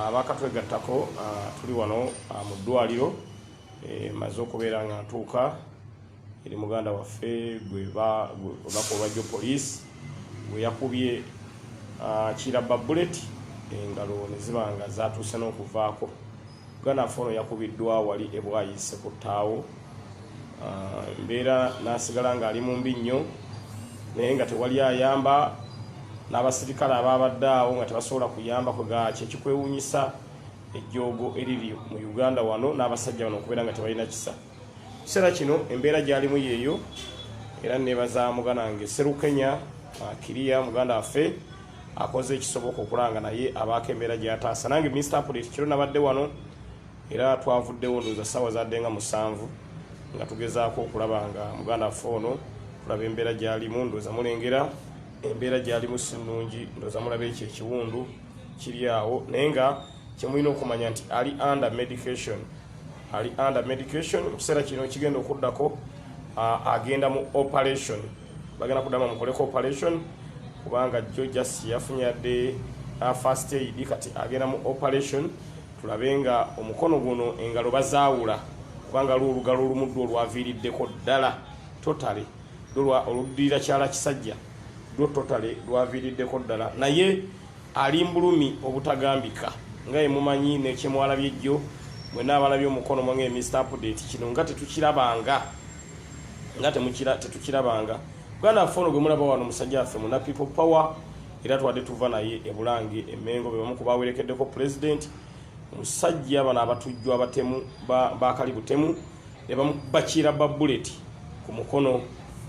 abakatwegattako tuli wano mu ddwaliro e, maze okubeera nga ntuuka eri muganda waffe gwebakolwajjo poliisi gwe yakubye kirabba buleti engalo ne ziba nga zatuuse n'okuvaako Ganafu ono yakubiddwa wali e Bwaise ku ttaawo ah, mbeera n'asigala ng'ali mu mbi nnyo naye nga tewali ayamba n'abasirikale abaabadde awo nga tebasobola kuyamba kwegaaki ekikwewuunyisa ejjoogo eriri mu uganda wano n'abasajja bano okubeera nga tebalina kisa kiseera kino embeera gyalimu yeeyo era nebaza muganange serukenya ah, kiriya muganda waffe akoze ekisoboka okulanga naye abaako embeera gyataasa nange minisita apolisi kiro nabadde wano era twavuddewo ndooza ssaawa zadde nga musanvu nga tugezaako okulaba nga muganda waffe ono tulaba embeera gyalimu ndooza mulengera embeera gyalimu si nnungi ndooza mulaba ekyo ekiwundu kiri awo naye nga kyemulina okumanya nti ali under medication ali under medication mu kiseera kino kigenda okuddako agenda mu operation bagala kudama mukoleko operation kubanga jo just yafunye yadde uh, first aid kati agenda mu operation tulabe nga omukono guno engalo bazaawula kubanga lwo olugalo olumuddu olwaviiriddeko ddala totale dolwa oluddirira kyala kisajja lwo totale lwaviiriddeko ddala naye ali mbulumi obutagambika nga emumanyi nekyemwalabye jjo mwena abalabye omukono mwange mr update kino nga tetukirabanga nga temukira tetukirabanga bwana affe ono gwemulaba wano musajja affe muna people power era twade tuva naye ebulange emengo bebamu kubawerekeddeko pulezidenti omusajja bano abatujju abatemu bakali butemu nebamu bakira babuleti ku mukono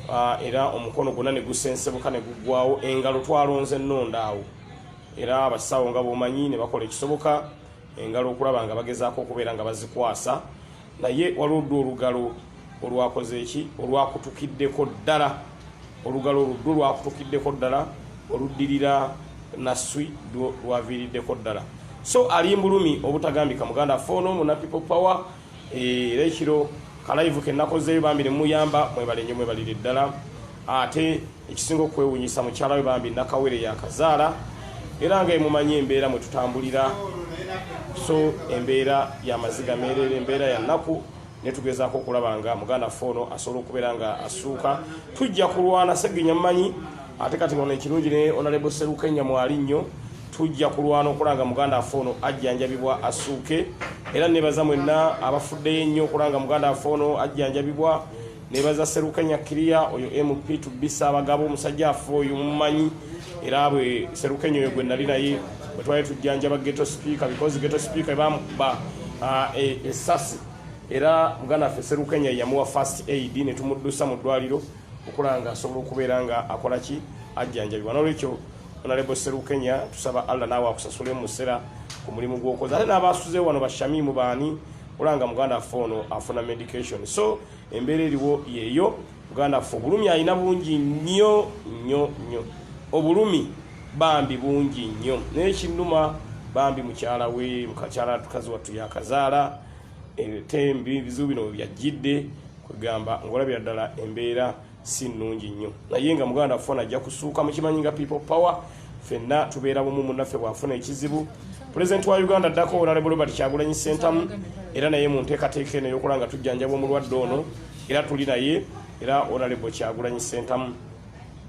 Ah, era omukono gwonna ne gusensebuka ne guggwawo engalo twalonze ennonda awo era abasawo nga bwomanyi ne bakola ekisoboka engalo okulaba nga bagezaako okubeera nga bazikwasa Naye waliwo ddu olugalo olwakoze eki olwakutukiddeko ddala olugalo oluddu lwakutukiddeko ddala oluddirira naswi dwo lwaviiriddeko ddala so ali mbulumi obutagambika muganda affe ono muna people power eh, era ekiro kalayivu kenakozeeyo bambi nemuyamba mwebalenyo mwebalire ddala ate Ekisinga okwewunyisa mukyala we bambi nakawere yakazaala era nga emumanyi embeera mwe tutambulira so embeera ya maziga meerere embeera ya nnaku ne tugezaako okulaba nga muganda ffe ono asobola okubeera nga asuuka tujja kulwana segenya mumanyi ate kati ono ekirungi ne onalebo seruka enyamwali nnyo tujja kulwana okulaba nga muganda affe ono ajjanjabibwa asuuke era nebaza mwenna abafuddeyo ennyo okulaba nga muganda affe ono ajjanjabibwa nebaza serukanya kiriya oyo mp tubisa abagabo omusajja afa oyo mumanyi era bwe serukenya oyo gwe nali naye bwe twali tujjanjaba geto speaker because geto speaker bamukuba ah, e, esasi era muganda ffe serukenya yamuwa first aid ne tumuddusa mu ddwaliro okulanga asobola okubeera nga akola ki ajjanjabibwa nolwekyo onalebo serukenya tusaba allah naawe akusasule mu musera ku mulimu gwokoza ate n'abaasuze wano bashamimu baani olanga muganda ffe ono afuna medication so Embeera eriwo yeeyo muganda ffe obulumi alina bungi nnyo nnyo nnyo obulumi bambi bungi nnyo naye kinnuma bambi mukyala we mukakyala tukazi wattu yakazaala etembi bizibu bino webyajjidde kwegamba ngaolabira ddala embeera si nnungi nnyo naye nga muganda afona ajja kusuuka mukimanyi nga people power fenna tubeera bumu munaffe bwafuna ekizibu pulezidenti wa uganda addako onalebo robert kyagulanyi sentamu era naye mu nteekateeka eno eyokola nga tujjanjaba omulwadde ono era tuli naye era onalebo kyagulanyi sentamu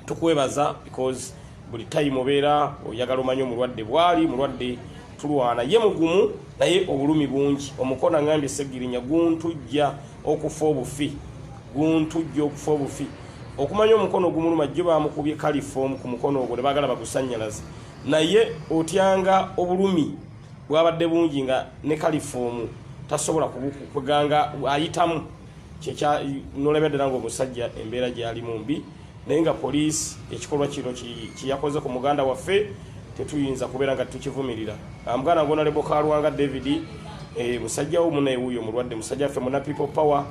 tukwebaza because buli time obeera oyagala omanya omulwadde bwali mulwadde tulwana ye mugumu naye obulumi bungi omukono angambye segirinya guntujja okufa obufi guntujja okufa obufi okumanya omukono ogumuluma jjo bamukubye kalifoomu ku mukono ogwo ne bagala bagusanyalaze naye otyanga obulumi bwabadde bungi nga ne kalifoomu tasobola kuganga ayitamu kyekya nolabya ddala ngaomusajja embeera gyalimu mbi naye nga poliisi ekikolwa kino kyeyakoze ku muganda waffe tetuyinza kubeera nga tukivumirira amuganda ngona lebo kalwanga david eh, musajja wo munaye wuyo mulwadde musajja ffe muna people power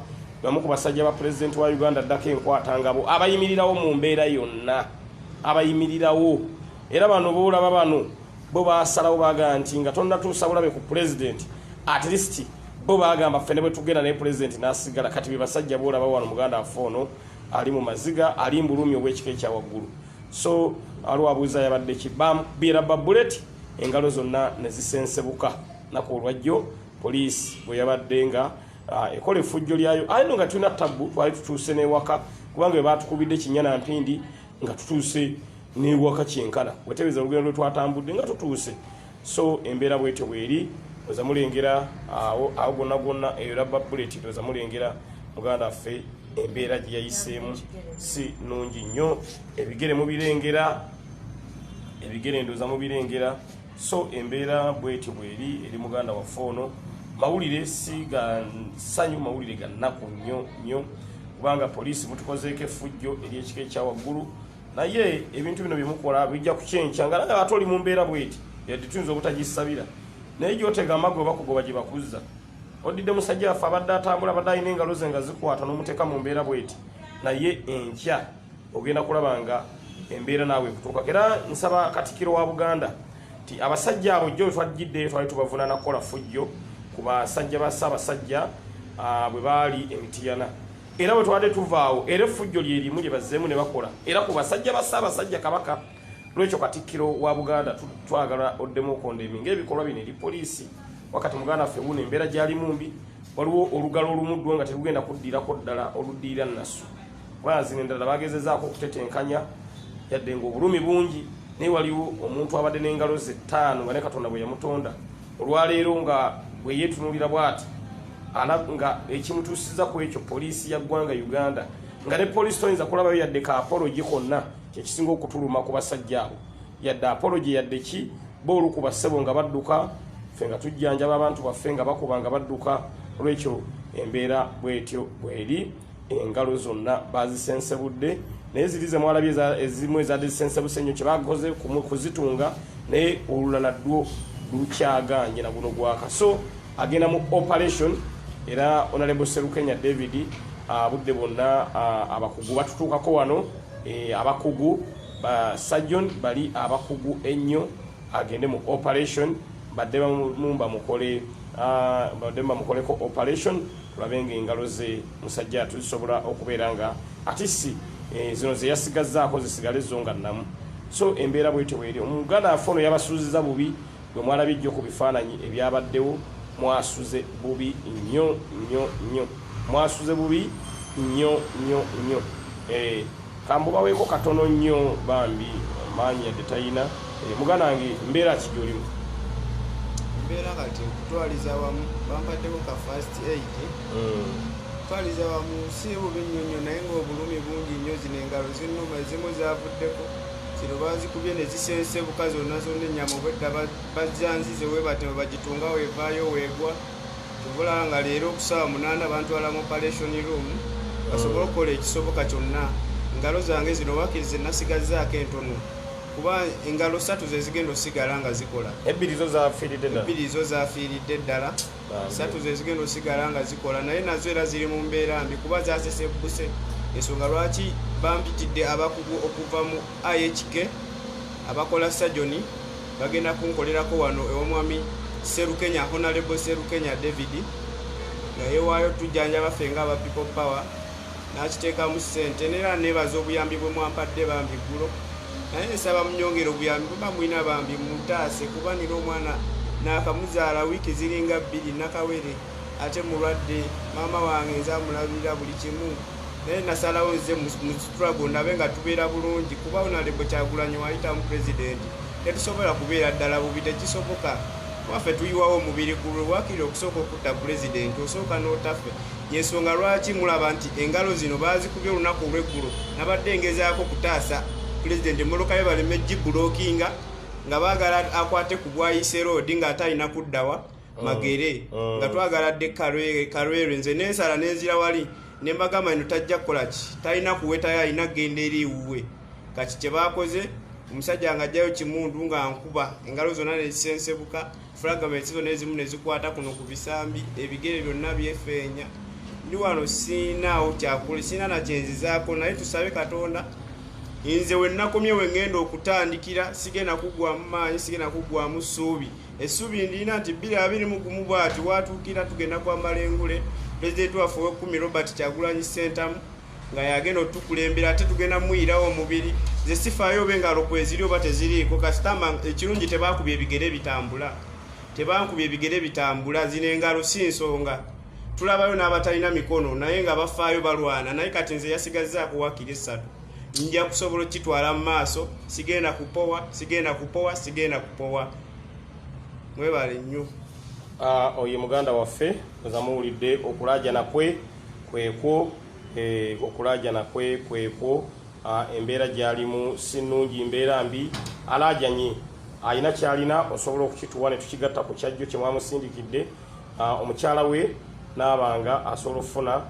bamu ku basajja ba pulezidenti wa uganda ddako enkwata ngabo abayimirirawo mu mbeera yonna abayimirirawo era bano boolaba bano bo basalawo bagamba nti nga tonnatuusa bulabe ku pulezidenti at least bo bagamba ffe ne bwe tugenda naye pulezidenti n'asigala kati be basajja boolaba wano muganda waffe ono ali mu maziga ali mbulumi obwekika ekya waggulu so aliwo abuuza yabadde ki bamukbira babuleti engalo zonna ne zisensebuka naku olwajjo poliisi bwe yabadde nga ah, ekola efujjo lyayo aye no nga tulina tabbu twali tutuuse n'ewaka kubanga webatukubidde kinyana mpindi nga tutuuse n'ewaka kyenkana wetebeeza olugendo lwe twatambudde nga tutuuse so embeera bwetyo bweri oza mulengera awo awo gonna gonna eyo labba buleti oza mulengera muganda waffe embeera gye yayiseemu si nungi nnyo ebigere mubirengera ebigere ndoza mubirengera so embeera bwetyo bweri eri muganda waffe ono mawulire si ga ssanyu mawulire ga nnaku nnyo nnyo kubanga poliisi mutukozeeko effujjo ery'ekika ekya waggulu naye ebintu bino byemukola bijja kukyenkya nga naye ate oli mu mbeera bweti yadde tuyinza obutagisabira naye gyotega amagu obakugoba gye bakuzza odidde musajja waffe abadde atambula abadde alina engalo ze nga zikwata n'omuteeka mu mbeera bweti naye enkya ogenda kulaba nga embeera naawe ekutuuka era nsaba katikiro wa buganda nti abasajja abo jjo twajjiddeyo twali tubavunana kukola fujjo ku basajja ba ssaabasajja ah, bwe baali emitiyana Era bwe twabadde tuva awo, era effujjo lye limu lye bazzeemu ne bakola, era ku basajja ba Ssaabasajja Kabaka. N'olwekyo Katikkiro wa Buganda twagala oddemu okondeemi ng'ebikolwa bino eri poliisi. Wakati muganda waffe wuuno embeera gy'alimu mbi, waliwo olugalo olumu ddwo nga terugenda kuddirako ddala oluddirira Nassu. Kubanga zino endala baagezezaako okutetenkanya yadde ng'obulumi bungi naye waliwo omuntu abadde n'engalo ze ttaano nga ne Katonda bwe yamutonda. olwaleero nga bweyetunulira bwati nga ekimutusiza ku ekyo poliisi ya ggwanga uganda nga ne poliisi toyinza kulabayo yadde ka apologi konna kyekisinga okutuluma ku basajja abo yadde apologi yadde ki boolu ku bassebo nga badduka fe nga tujjanjaba abantu baffe nga bakuba nga badduka olwekyo embeera bwetyo bweri engalo zonna bazisensebudde naye ziri zemwalabye ezimu ezadisensebuse nnyo kyebakoze kuzitunga naye olulala dwo lukyaganye na guno gwaka so agenda mu operation era onalebo serukenya david abudde ah, bonna ah, abakugu batutuukako wano eh, abakugu ba sajjon bali abakugu ennyo agende mu operation badde bamumba mukole ah, badde bamukoleko operation tulabe nga engalo ze musajja atu zisobola okubeera nga atisi eh, zino zeyasigazzaako zisigale zo nga namu so embeera bwetyo bweri omuganda afe ono yabasuuziza bubi bwe mwalabye jjo ku bifaananyi ebyabaddewo mwasuze bubi nnyo nnyo nnyo mwasuze bubi nnyo nnyo nnyo eh, Kamubaweko katono nnyo bambi maanyi yadde tayina eh, muganange mbeera ki gyolimu mbeera kati okutwaliza wamu bampaddeko ka fast aid hmm. okutwaliza wamu si bubi nnyo nnyo naye ngaobulumi bungi nnyo zino engalo zinuma ezimu zavuddeko kino bazikubye ne zisensebuka zonna zonna ennyama obwedda bajjanzize webatema bagitunga wevaayo weegwa tubula nga leero okusaawa munaana bantwala mu operation room basobole okukola ekisoboka kyonna engalo zange zino wakiri zenasigazaako entono kuba engalo satu zezigenda osigala nga zikola ebbiri zo zafiiridde ddala satu zezigenda osigala nga zikola naye nazo era ziri mu mbeera mbi kuba zasesebbuse ensonga lwaki bampitidde abakugu okuva mu ihk abakola sajoni Bagenda kunkolerako wano ew'omwami Serukenya, Honalebo Serukenya David nga yewaayo tujjanjaba ffe nga aba People Power n'akiteekamu ssente neera neebaza obuyambi bwe mwampadde bambi ggulo naye nsaba munyongere obuyambi bweba mulina bambi mutaase kuba nina omwana naakamuzaala wiiki ziringa bbiri nakawere ate mulwadde maama wange nze amulabirira buli kimu naye nasalawo nze struggle ndabe nga tubeera bulungi kuba onalebo kyagulanyi wayitamu president tetusobola kubeera ddala bubi tekisoboka waffe tuyiwawo omubiri gulwe wakiri okusooka okutta president osooka n'otaffe yensonga lwaki mulaba nti engalo zino bazikubye olunaku olweggulo nabadde ngezaako kutaasa president emmotoka ye baleme gibulokinga nga baagala akwate ku bwayise roodi ng'ate alina kuddawa mm. magere mm. nga twagala dde karwere nze nensala nenzira wali nembagamba ino tajja kukolaki talina kuwetayo alina kugenda eri ewuwe kati kyebakoze omusajja nga ajjayo kimundu nga nkuba engalo zonna nezisensebuka fragments zonna ezimu nezikwata kuno ku bisambi ebigere byonna byefeenya ndi wano siinaawo kyakuli siina nakyenzizaako naye tusabe katonda nze wenakomye wengenda okutandikira sigenda kugwamu maanyi sigenda kugwamu suubi Essuubi ndiina nti bbiri abiri mu gumu bwati watuukira tugenda kwambala engule pulezidenti waffe ow'ekkumi Robert Kyagulanyi Ssentamu nga yagenda otukulembera ate tugenda muyirawo omubiri ze sifaayo oba engalo kweziri oba teziriiko kasitama ekirungi tebaakubya ebigere bitambula tebankubya ebigere bitambula zino engalo si nsonga tulabayo n'abatalina mikono naye nga bafaayo balwana naye kati nze yasigazzaako wakiri essatu nja kusobola okukitwala mu maaso sigenda kupowa sigenda kupowa sigenda kupowa mwebale nnyo ah, oyo muganda waffe ezamuwulidde okulajana kwe kwekwo eh, okulajana kwe kwekwo ah, embeera gyalimu si nnungi mbeera mbi alajanye alina kyalina osobola okukituwa ne tukigatta ku kyajjo kye mwamusindikidde ah, omukyala we naabanga asobola okufuna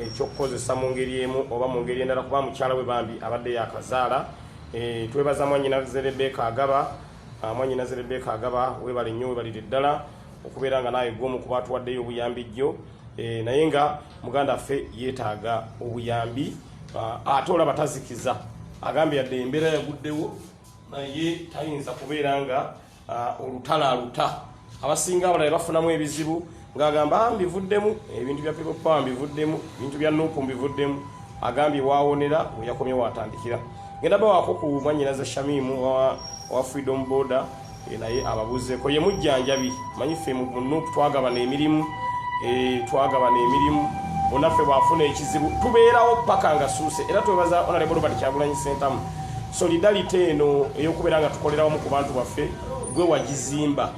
ekyokukozesa mu ngeri emu oba mu ngeri endala kuba mukyala we bambi abadde yakazaala e, twebaza mwanyinaze rebeka agaba ah, mwanyinaze rebeka agaba webale nnyo webalire ddala okubeera nga naawe gwomu kuba atuwaddeyo obuyambi jjo e, naye nga muganda ffe yeetaaga obuyambi ah, ate olaba tazikiza agambye yadde embeera yaguddewo naye tayinza kubeera nga Ah, olutalo aluta abasinga abalala bafunamu ebizibu ng'agamba ah, mbivuddemu ebintu bya people power mbivuddemu ebintu bya nupu mbivuddemu agambye waawonera weyakomye waatandikira ngenda bawaako ku mwanyinaza shamimu owa freedom border eh, naye ababuzeeko ye mujjanjabi manyi ffe mu nupu twagabana emirimu eh, twagabana emirimu onaffe bwafuna ekizibu tubeerawo paka nga suuse era twebaza onalebo robert kyagulanyi sentamu Solidarity eno ey'okubeera nga tukolera wamu ku bantu baffe gwe wagizimba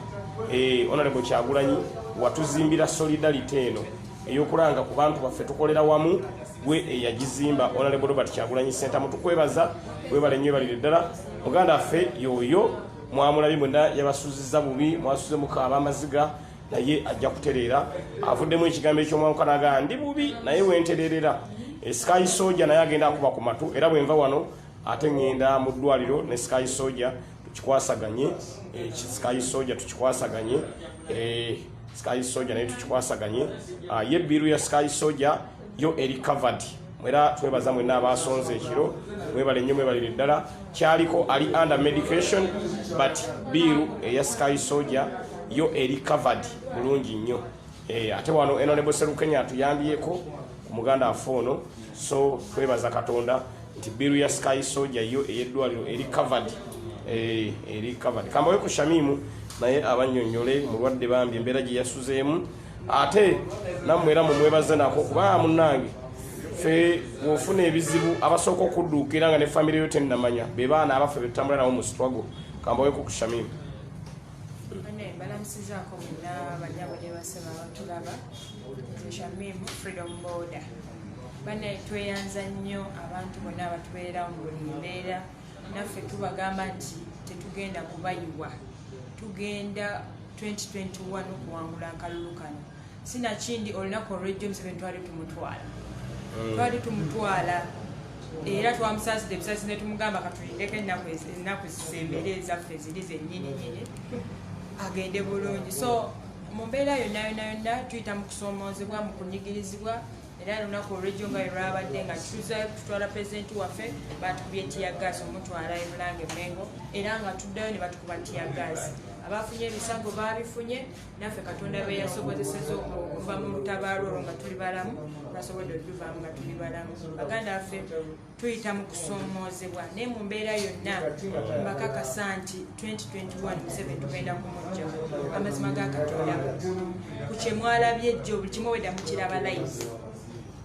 eh, Honorable Kyagulanyi watuzimbira solidarity eno eyokulanga ku bantu baffe tukolera wamu gwe eyagizimba onalebo robert kyagulanyi sentamu tukwebaza webale nnyo ebalire ddala muganda affe yoyo mwamulabi mwena yabasuziza bubi mwasuze mukaaba amaziga naye ajja kutereera avuddemu ekigambo ekyomwamukanaga ndi bubi naye wentereerera esikayi soja naye agenda akuba ku matu era bwenva wano ate ngenda mu ddwaliro ne sky soja tukikwasaganye eh, sky soja tukikwasaganye eh, sky soja naye tukikwasaganye ah, ye biru ya sky soja yo eri covered mwera twebaza mwena abasonze ekiro mwebale nnyo mwebalire ddala kyaliko ali under medication but biru eya sky soja yo eri covered bulungi nnyo Eh, ate wano enonebo serukenya atuyambyeko omuganda afe ono so twebaza katonda nti biru ya sky soja yo eyeddwaliro eri covered eh, eri covered kambawe ku shamimu naye abanyonyole mulwadde bambi embeera gye yasuzeemu ate nammwe era mumwebaze nako kuba munange fe wofuna ebizibu abasooka okudduukira nga ne famire yo tennamanya be baana abaffe betutambula nawo mu struggle kambawe ku kushamimu Bane balamusizaako muna banyabo ne basema abatulaba eshamimu freedom border bane tweyanza nnyo abantu bonna abatubeererawo mu buli mbeera naffe tubagamba nti tetugenda kubayiwa tugenda 2021 okuwangula akalulu kano sinakindi olunaku olwejjo museveni twali tumutwala mm. twali tumutwala era twamusaside ebisasi netumugamba katulindeko ennaku zisembere ezaffe ziri zenyini nyini agende bulungi so mu mbeera yonna yonna yonna tuyita mu kusoomoozebwa mu kunyigirizibwa era lunaku olwejjo nga lwelwabadde nga tuzayo kututwala pulezidenti waffe batukubye tiyagaasi omutwala ebulanga emengo era nga tuddayo ne batukuba tiyagaasi abafunye ebisago baabifunye naffe katonda be yasobozeseza okuva mu lutabaalo olwo nga tuli balamu nasobodde otuvaamu nga tuli balamu baganda baffe tuyita mu kusoomoozebwa naye mu mbeera yonna mbakakasa nti 2021 tugenda kumujja amazima ga katonda ku kyemwalabye jjo buli kimu weda mukiraba live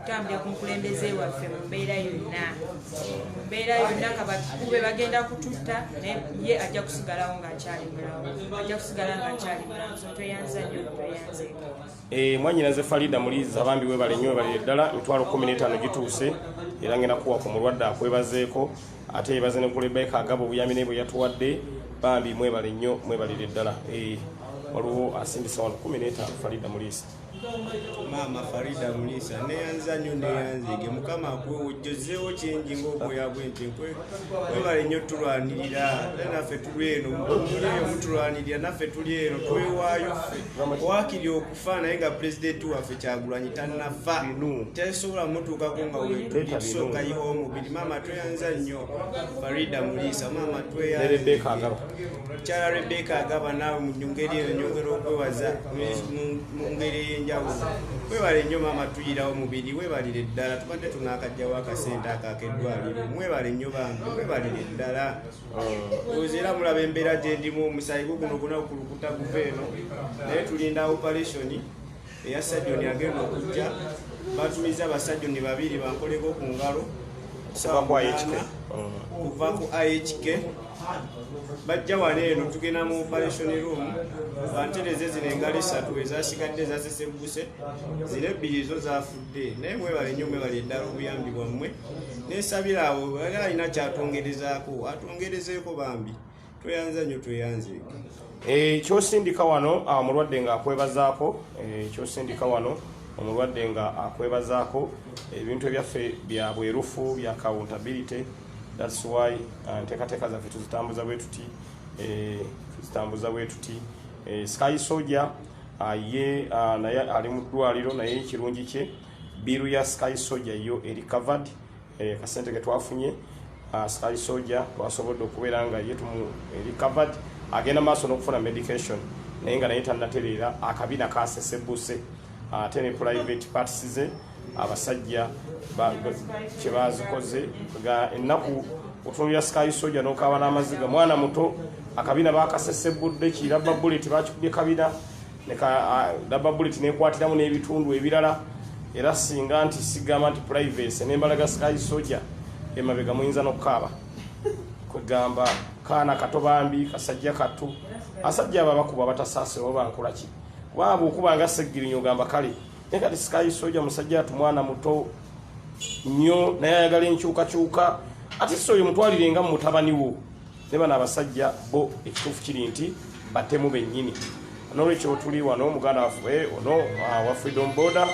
kutambulira ku mukulembeze waffe mu mbeera yonna mu mbeera yonna kabakikube bagenda kututta naye ye ajja kusigalawo ngaakyali mulawo ajja kusigala ngaakyali mulawo so tweyanza nyo tweyanze eh, mwanyinaze farida muliza bambi webale nyo webalire ddala mitwalo kumi n'etaano gituuse era ngenda kuwa ku mulwadde akwebazeeko ate yebaze ne kulebeka agaba obuyambi naye bwe yatuwadde bambi mwebale nnyo mwebalire ddala eh, waliwo asindisa wano kumi n'etaano farida muliisa maama farida mulisa neyanza nyo neyanzege mukama akuwewojjozeewo kingi ngaobwoya bwentenkwe webale nyo tulwanirira naffe tuli eno mubuliyo mutulwanirira naffe tuli eno twewaayo ffe wakiri okufa naye nga pulezidenti waffe kyagulanyi tanafa tesobola mutuukako nga wetulisooka yiwa omubiri maama tweyanza nnyo farida mulisa maama tweyanzege Mukyala Rebecca agamba naawe mu ngeri eyo nyongera okwewaza mu ngeri ey'enjawulo. Webale nnyo maama tuyirawo mubiri, webalire ddala tubadde tunaakajjawo akasente ako akeddwaliro. Mwebale nnyo bambi, webalire ddala. Ozi era mulaba embeera gye ndimu, omusaayi gwo guno guna kulukuta guva eno naye tulinda operation. eya sajoni agenda okujja batumiza basajoni babiri bankoleko ku ngalo kuva ku ihk bajja wano eno tugenda mu operation room bantereze zino engalo esatu ezasigadde zasesebbuse zino ebbiri zo zafudde naye mwebale nyo mwebale eddala obuyambi bwammwe nesabira awo ali alina kyatongerezaako atongerezeeko bambi tweyanza nyo tweyanze eh, kyosindika wano ah, omulwadde nga akwebazaako eh, kyosindika wano omulwadde nga akwebazaako ebintu ebyaffe bya bwerufu bya accountability thats why ah, nteekateeka zaffe tuzitambuza bwe tuti eh, tuzitambuza bwe tuti eh, sky soja ah, ye ah, naye ali mu ddwaliro naye ekirungi kye biiru ya sky soja yo eri covered eh, kasente ketwafunye ah, sky soja twasobodde okubeera nga ye tumu recovered agenda maaso n'okufuna medication naye nga naye tanatereera akabina kasesebuse ah, ate ne private parts ze abasajja kyebazikoze ga ennaku otunulira sky soja n'okaaba n'amaziga mwana muto akabina bakasesebudde kirabba bullet bakikubye kabina leka daba bullet nekwatiramu n'ebitundu ebirala era singa nti sigamba nti privacy nembalaga sky soja emabega muyinza nokukaaba kwegamba kaana kato bambi kasajja kattu asajja abo abakuba batasaasira oba nkolaki waaba okuba nga seggirinyo ogamba kale naye kati sky soja musajja atu mwana muto nnyo naye ayagala enkyukakyuka ate si oyo mutwalire nga mutabani wo ne bano abasajja bo ekituufu kiri nti batemu bennyini nolwekyo tuli wano muganda waffe ono ah, wa freedom border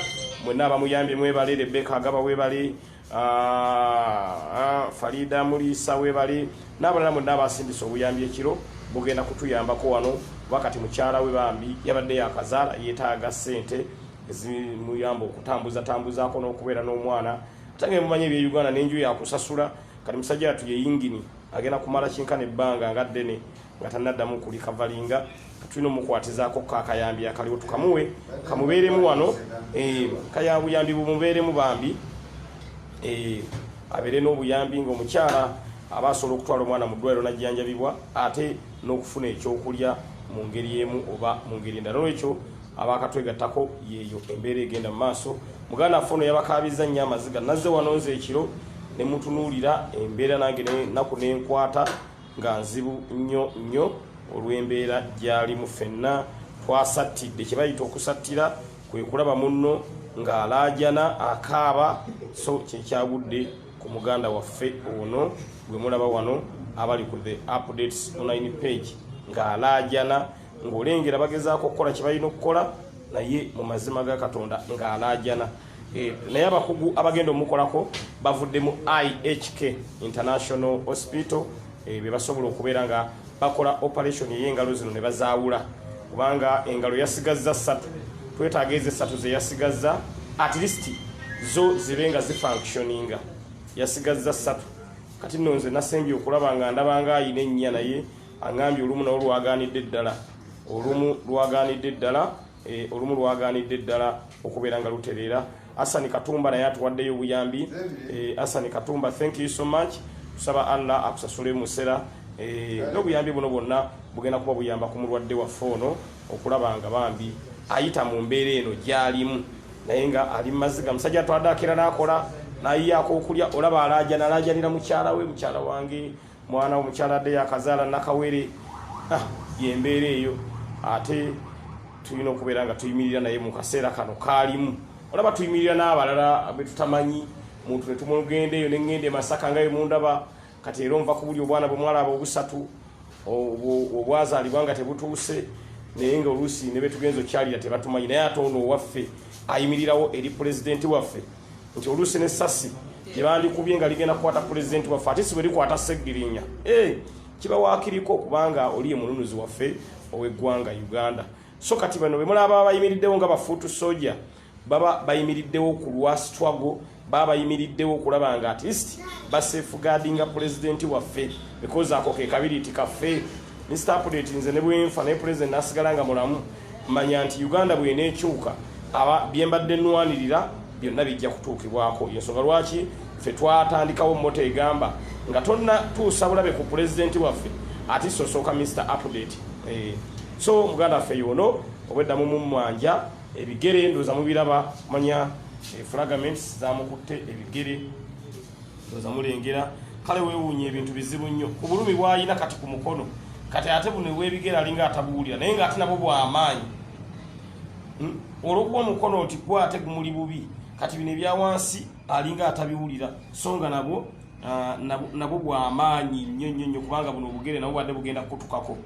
mwenna abamuyambye mwebale rebeka agaba webale ah, ah, farida muliisa webale n'abalala mwenna abasindisa obuyambi ekiro bugenda kutuyambako wano kuba kati mukyala we bambi yabadde yakazaala yetaaga ssente ezimuyamba okutambuza tambuzaako n'okubeera n'omwana atange mumanyi ebye uganda n'enju yakusasula kati musajja yatu yeyingini agenda kumala kinkana ebbanga nga ddene nga tanaddamu kulikavalinga tulina omukwatizaako ko akayambi akaliwo tukamuwe kamubeeremu wano eh, kayabuyambi bumubeeremu bambi eh, abeere n'obuyambi ngaomukyala aba asobola okutwala omwana mu ddwaliro najjanjabibwa ate n'okufuna ekyokulya mu ngeri emu oba mu ngeri endala nolwekyo abakatwegattako yeeyo embeera egenda mu maaso muganda affe ono yabakaabizza nnyo amaziga nazze wano nze ekiro ne mutunuulira embeera nange naku nenkwata nga nzibu nnyo nnyo olw'embeera gyalimu fenna twasattidde kye bayita okusattira kwe kulaba munno ng'alaajana akaaba so kyekyagudde ku muganda waffe ono gwe mulaba wano abali ku the updates online page ng'alaajana ng'olengera bagezaako okukola kye balina okukola naye mu mazima ga katonda ng'alaajana eh, naye abakugu abagenda omukolako bavudde mu ihk international hospital eh, be basobola okubeera nga bakola operation ey'engalo zino ne bazaawula kubanga engalo yasigazza ssatu twetaaga ezo essatu ze yasigazza at least zo zibe nga zifunctioninga yasigazza ssatu kati nno nze nasembye okulaba nga ndabanga ayina ennya naye Angambye olumu nawo lwaganidde ddala olumu lwaganidde ddala e, olumu lwaganidde ddala okubeera nga lutereera. Asani Katumba naye atuwaddeyo obuyambi. E, Asani Katumba, thank you so much. Tusaba Allah akusasule musera e, n'obuyambi buno bwonna bugenda kuba buyamba ku mulwadde waffe ono okulaba nga bambi ayita mu mbeera eno gyalimu naye nga ali mumaziga musajja atwadde akera n'akola nayiyaako okulya olaba alaajana alaajanira mukyala we mukyala wange mwana omukyala adde yakazaala nakawere ah, yembeera eyo ate tulina okubeera nga tuyimirira naye mu kaseera kano kaalimu olaba tuyimirira n'abalala betutamanyi muntu netumulugenda eyo nengenda emasaka nga emundaba kati era onva kubuli obwana bwemwala aba obusatu obwazalibwa nga tebutuuse naye nga oluusi nebetugenza okyalira tebatumanyi naye ate ono owaffe ayimirirawo eri pulezidenti waffe nti oluusi ne sasi lyebandikubye nga ligenda kukwata pulezidenti waffe ate si bwe likwata seggirinya eh, kiba wakiriko kubanga oliye mununuzi waffe ow'eggwanga uganda so kati bano bemulaba bayimiriddewo nga bafuutu soja baba bayimiriddewo ku lwa struggle baba bayimiriddewo okulaba nga at least basefugadinga pulezidenti waffe because ako kekabiriiti kaffe Mister Update nze ne bwenfa naye president nasigala nga mulamu manya nti Uganda bwena ekyuka aba byembadde nwanirira byonna bijja kutuukibwako yensonga lwaki ffe twatandikawo mota egamba nga tonna tuusa bulabe ku pulezidenti waffe ati sosooka Mister Update eh, so muganda waffe yono obwedda mu mumwanja ebigere ndoza mubiraba manya eh, fragments zamukutte ebigere ndoza mulengera kale wewuunya ebintu bizibu nnyo ku bulumi bwalina kati ku mukono kati ate buno ewebigera alinga atabuwulira naye nga ate nabwo bwamaanyi hmm? olwokuba omukono nti gwa ate gumuli bubi kati bino ebyawansi alinga atabiwulira so nga nabwo ah, nabwo bwamaanyi nnyo nnyo nnyo kubanga buno obugere nabwo bwadde bugenda kukutukako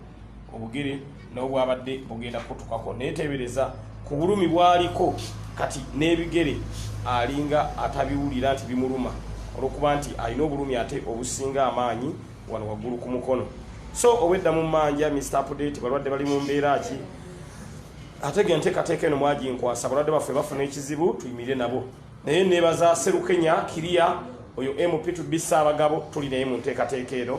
obugere nobwabadde bugenda kutukako netebereza ku bulumi bwaliko kati n'ebigere alinga atabiwulira nti bimuluma olwokuba nti alina obulumi ate obusinga amaanyi wano waggulu ku mukono so obwedda mu manja mr update balwadde bali mu mbeera ki ate ge nteekateeka eno mwaginkwasa balwadde baffe bafuna ekizibu tuyimirire nabo naye nebaza serukenya kiriya oyo mp tubisa abagabo tuli naye mu nteekateeka eno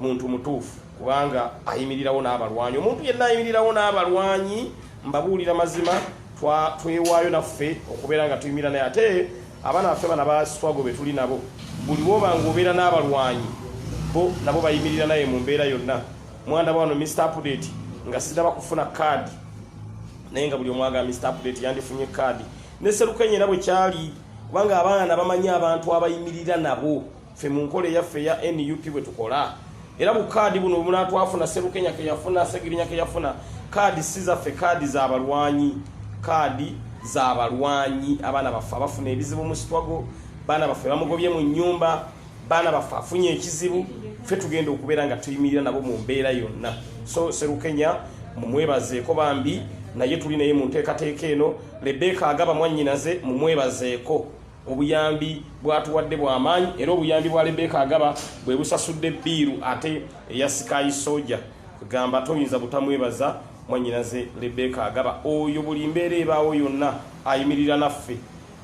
muntu mutuufu kubanga ayimirirawo n'abalwanyi omuntu yenna ayimirirawo n'abalwanyi mbabuulira mazima twewaayo naffe okubeera nga tuyimira naye ate abaana baffe bana baswago be tuli nabo buli woba nga obeera n'abalwanyi bo nabo bayimirira naye mu mbeera yonna mwanda bwano mr update nga siraba kufuna kaadi naye nga buli omwaga mr update yandifunye kaadi ne serukenyera bwe kyali kubanga abaana bamanyi abantu abayimirira nabo ffe mu nkola eyaffe eya nup bwe tukola era bu kaadi buno bwemunaatwafuna serukenya ke yafuna segirinya ke yafuna kaadi si zaffe kaadi za balwanyi kaadi za balwanyi abaana baffe abafuna ebizibu mu sitwago baana baffe bamugobye mu nnyumba baana baffe afunye ekizibu ffe tugenda okubeera nga tuyimirira nabo mu mbeera yonna so serukenya mumwebazeeko bambi naye tuli naye mu nteekateeka eno lebeka agaba mwannyinaze mumwebazeeko Obuyambi bw'atuwadde bwa maanyi era obuyambi bwa Rebecca Agaba bwe busasudde bbiiru ate eya Sky Soja gamba toyinza butamwebaza mwannyinaze Rebecca Agaba oyo buli mbeera ebaawo yonna ayimirira naffe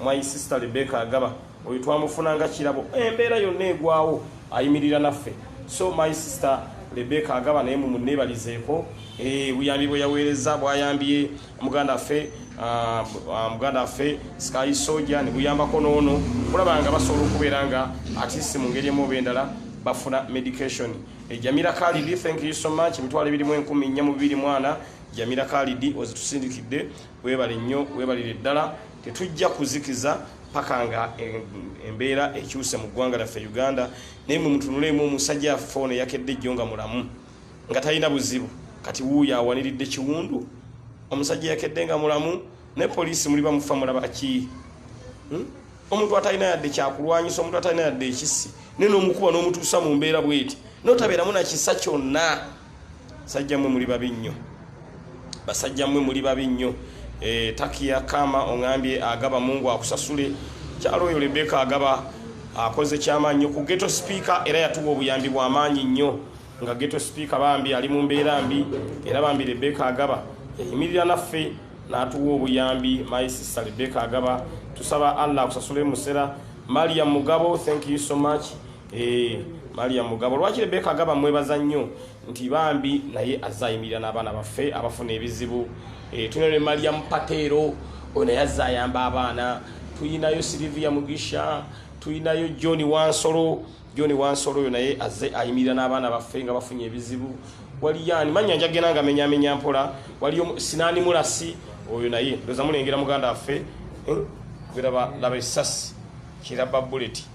my sister Rebecca Agaba oyo twamufuna nga kirabo embeera yonna egwawo ayimirira naffe so my sister Rebecca Agaba naye mumunneebalizeeko eh, obuyambi bwe yaweereza bwayambye muganda ffe ah, ah, muganda ffe sky soja neguyambako noono kulaba nga basobola okubeera nga atisi mu ngeri emu oba endala bafuna medication ejamira eh, kalidi thank you so much emitwalo ebirimu enkumi nnya mu bibiri mwana jamira kalidi ozitusindikidde webale nnyo webalire ddala tetujja kuzikiza paka nga eh, embeera ekyuse mu ggwanga lyaffe uganda naye mwe mutunuleemu omusajja fone yakedde ejjo nga mulamu nga talina buzibu kati wuuyo awaniridde kiwundu omusajja yakedde nga mulamu ne poliisi muli bamufa mulabaki hmm? omuntu atalina yadde kyakulwanyisa omuntu atalina yadde ekisi naye nomukuba nomutuusa mu mbeera bweti notabeeramu nakisa kyonna sajja mwe muli babi nnyo basajja mwe muli babi nnyo e, takiya kama ongambye agaba mungu akusasule kyalo oyo lebeka agaba akoze kyamaanyi nyo ku geto sipiika era yatuwa obuyambi bwamaanyi nnyo nga geto sipiika bambi ali mu mbeera mbi era bambi rebeka agaba yayimirira naffe n'atuwa obuyambi my sister rebeka agaba tusaba allah akusasule musera maria mugabo thank you so much eh, maria mugabo lwaki rebeka agaba mwebaza nnyo nti bambi naye azze ayimirira n'abaana baffe abafuna ebizibu eh, tulina ne maria mupateero oyo naye azze ayamba abaana tulinayo silivia mugisha tulinayo john wansolo John Wansolo oyo naye azze ayimirira n'abaana baffe nga bafunye ebizibu waliyo ani mannya njagenda nga menyamenya mpola waliyo sinaani mulasi oyo naye ndoza mulengera muganda waffe eh, geraba laba esasi kiraba buleti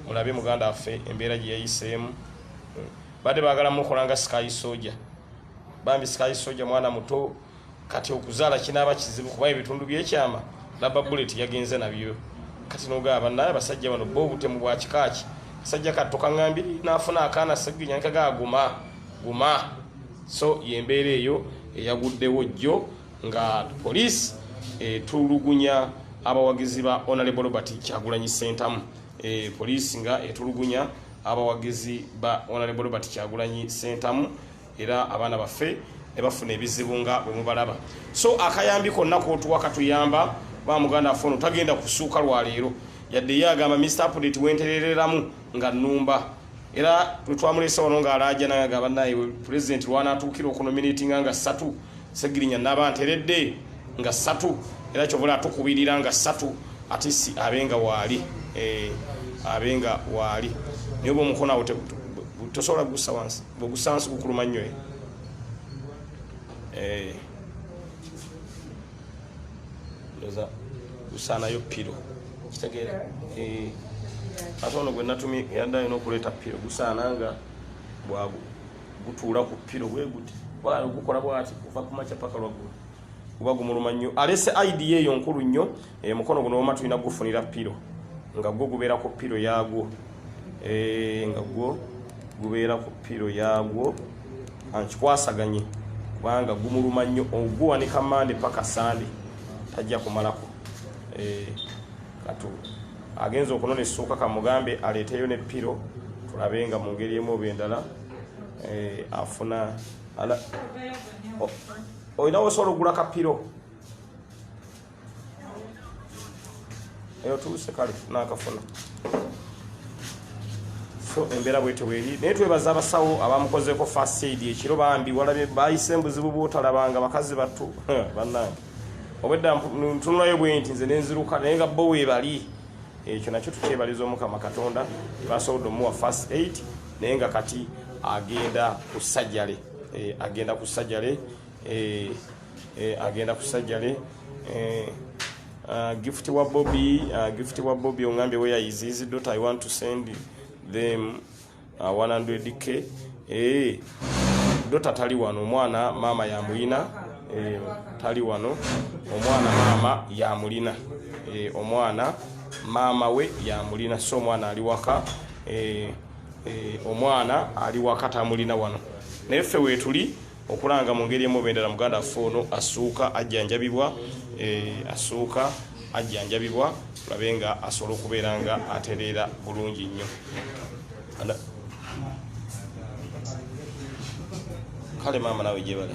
mulabe muganda waffe embeera gye yayiseemu eh, badde baagala mukola nga sky soja bambi sky soja mwana muto kati okuzaala kinaaba kizibu kuba ebitundu byekyama laba bullet yagenze nabyo kati nogaba banaye abasajja bano bo obutemu bwa kikaaki kasajja katto kaŋambye naafuna akaana seginyalika ga guma guma so yembeera eyo eyaguddewo jjo nga poliisi etulugunya abawagizi ba onalebo robert kyagulanyi sentamu e, poliisi nga etulugunya abawagizi ba onalebo robert kyagulanyi sentamu era abaana baffe ne bafuna ebizibu nga bwe mubalaba so akayambi konna kootuwa katuyamba ba muganda affe ono tagenda kusuuka lwaleero yadde ye agamba mr apdate wenterereramu nga nnumba era twetwamulesa wano nga alaja naye agamba naye pulezidenti lwanatuukira okunominatinga nga ssatu segirinya naba nteredde nga ssatu era kyovula atukubirira nga ssatu ate si abe nga waali eh, abe nga waali naye oba omukono awo tosobola kugussa wansi Bogusansi kukuluma nnyo eh. eh. Ndoza gusaanayo piro kitegeera eh. ate ono gwe natumye yadde alina okuleeta piro gusaana nga bwagu gutuula ku piro bwe guti bwali gukola bwati kuva ku makya paka lwaggulu kuba gumuluma nnyo alese idea eyo nkulu nnyo e, mukono guno woma tulina gufunira piro nga gwo gubeera ku piro yagwo e, nga gwo gubeera ku piro yagwo ankikwasaganye kubanga gumuluma nnyo oguwanika mande paka sande tajja kumalako e, katu agenza okunona essuuka kamugambe aleeteyo ne piro tulabe nga mu ngeri emu oba endala e, afuna olina wosobola okugula kapiro eyo tuuse kale nakafuna so embeera bwetyo bweri naye twebaza abasawo abamukozeeko fasaid ekiro bambi walabye bayise mbuzibu bwotalabanga bakazi battu bannange obwedda ntunulayo bwenti nze nenziruka naye nga bo webali ekyo nakyo tukyebaliza omukama katonda basobodde omuwa fast aid naye nga kati agenda ku sajale eh, agenda ku sajale eh, eh, agenda kusajjale eh, uh, gift wa bobi uh, gift wa bobi ongambye where is his daughter i want to send them uh, 100k eh, dota tali wano omwana maama yamulina eh, tali wano omwana maama yamulina eh, omwana maama we yamulina so omwana ali waka eh, eh, omwana ali waka tamulina wano naye ffe weetuli okulanga mu ngeri emu bendala muganda affe ono asuuka ajjanjabibwa eh, asuuka ajjanjabibwa tulabe nga asobola okubeera nga atereera bulungi nnyo kale maama nawe gyebale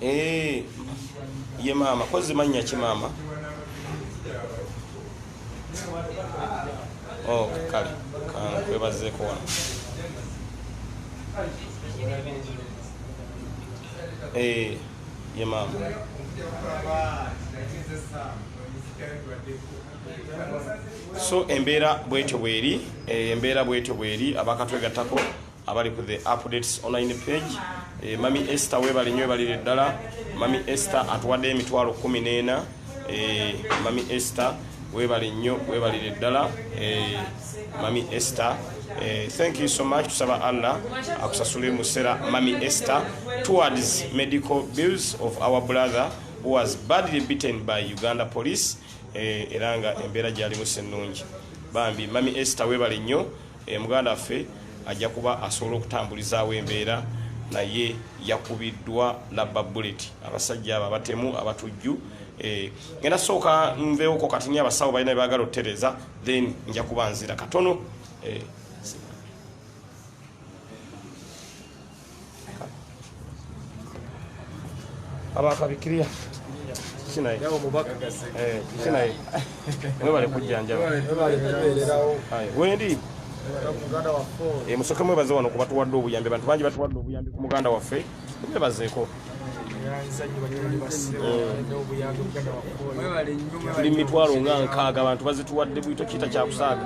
eh, ye maama kozi mannya ki maama Oh, kale kankwebazeeko wano eh, ye maama so embeera bwetyo bweri eh, embeera bwetyo bweri abakatwegattako abali ku the updates online page e, mami ester webale nyo ebalire ddala mami ester atuwadde emitwalo kumi neena e, eh, mami ester webale nnyo webalire ddala e, mami ester e, thank you so much tusaba allah akusasule musera mami ester towards medical bills of our brother who was badly beaten by uganda police e, era nga embeera gyalimu sennungi bambi mami ester webale nnyo E, muganda waffe ajja kuba asobola okutambulizaawo embeera naye yakubiddwa labba bullet abasajja abo abatemu abatujju eh, ngenda sooka nveewoko kati ni abasawo balina bebagala otutereza then nja kuba nzira katono eh, abakabikiria kinaye eh, kinaye mwebale kujjanjaba wendi eh, musoke mwebaze wano kubatuwadde obuyambi abantu bangi batuwadde obuyambi ku muganda waffe mwebazeeko tuli mitwalo nga nkaaga abantu bazituwadde bwito kita kyakusaaga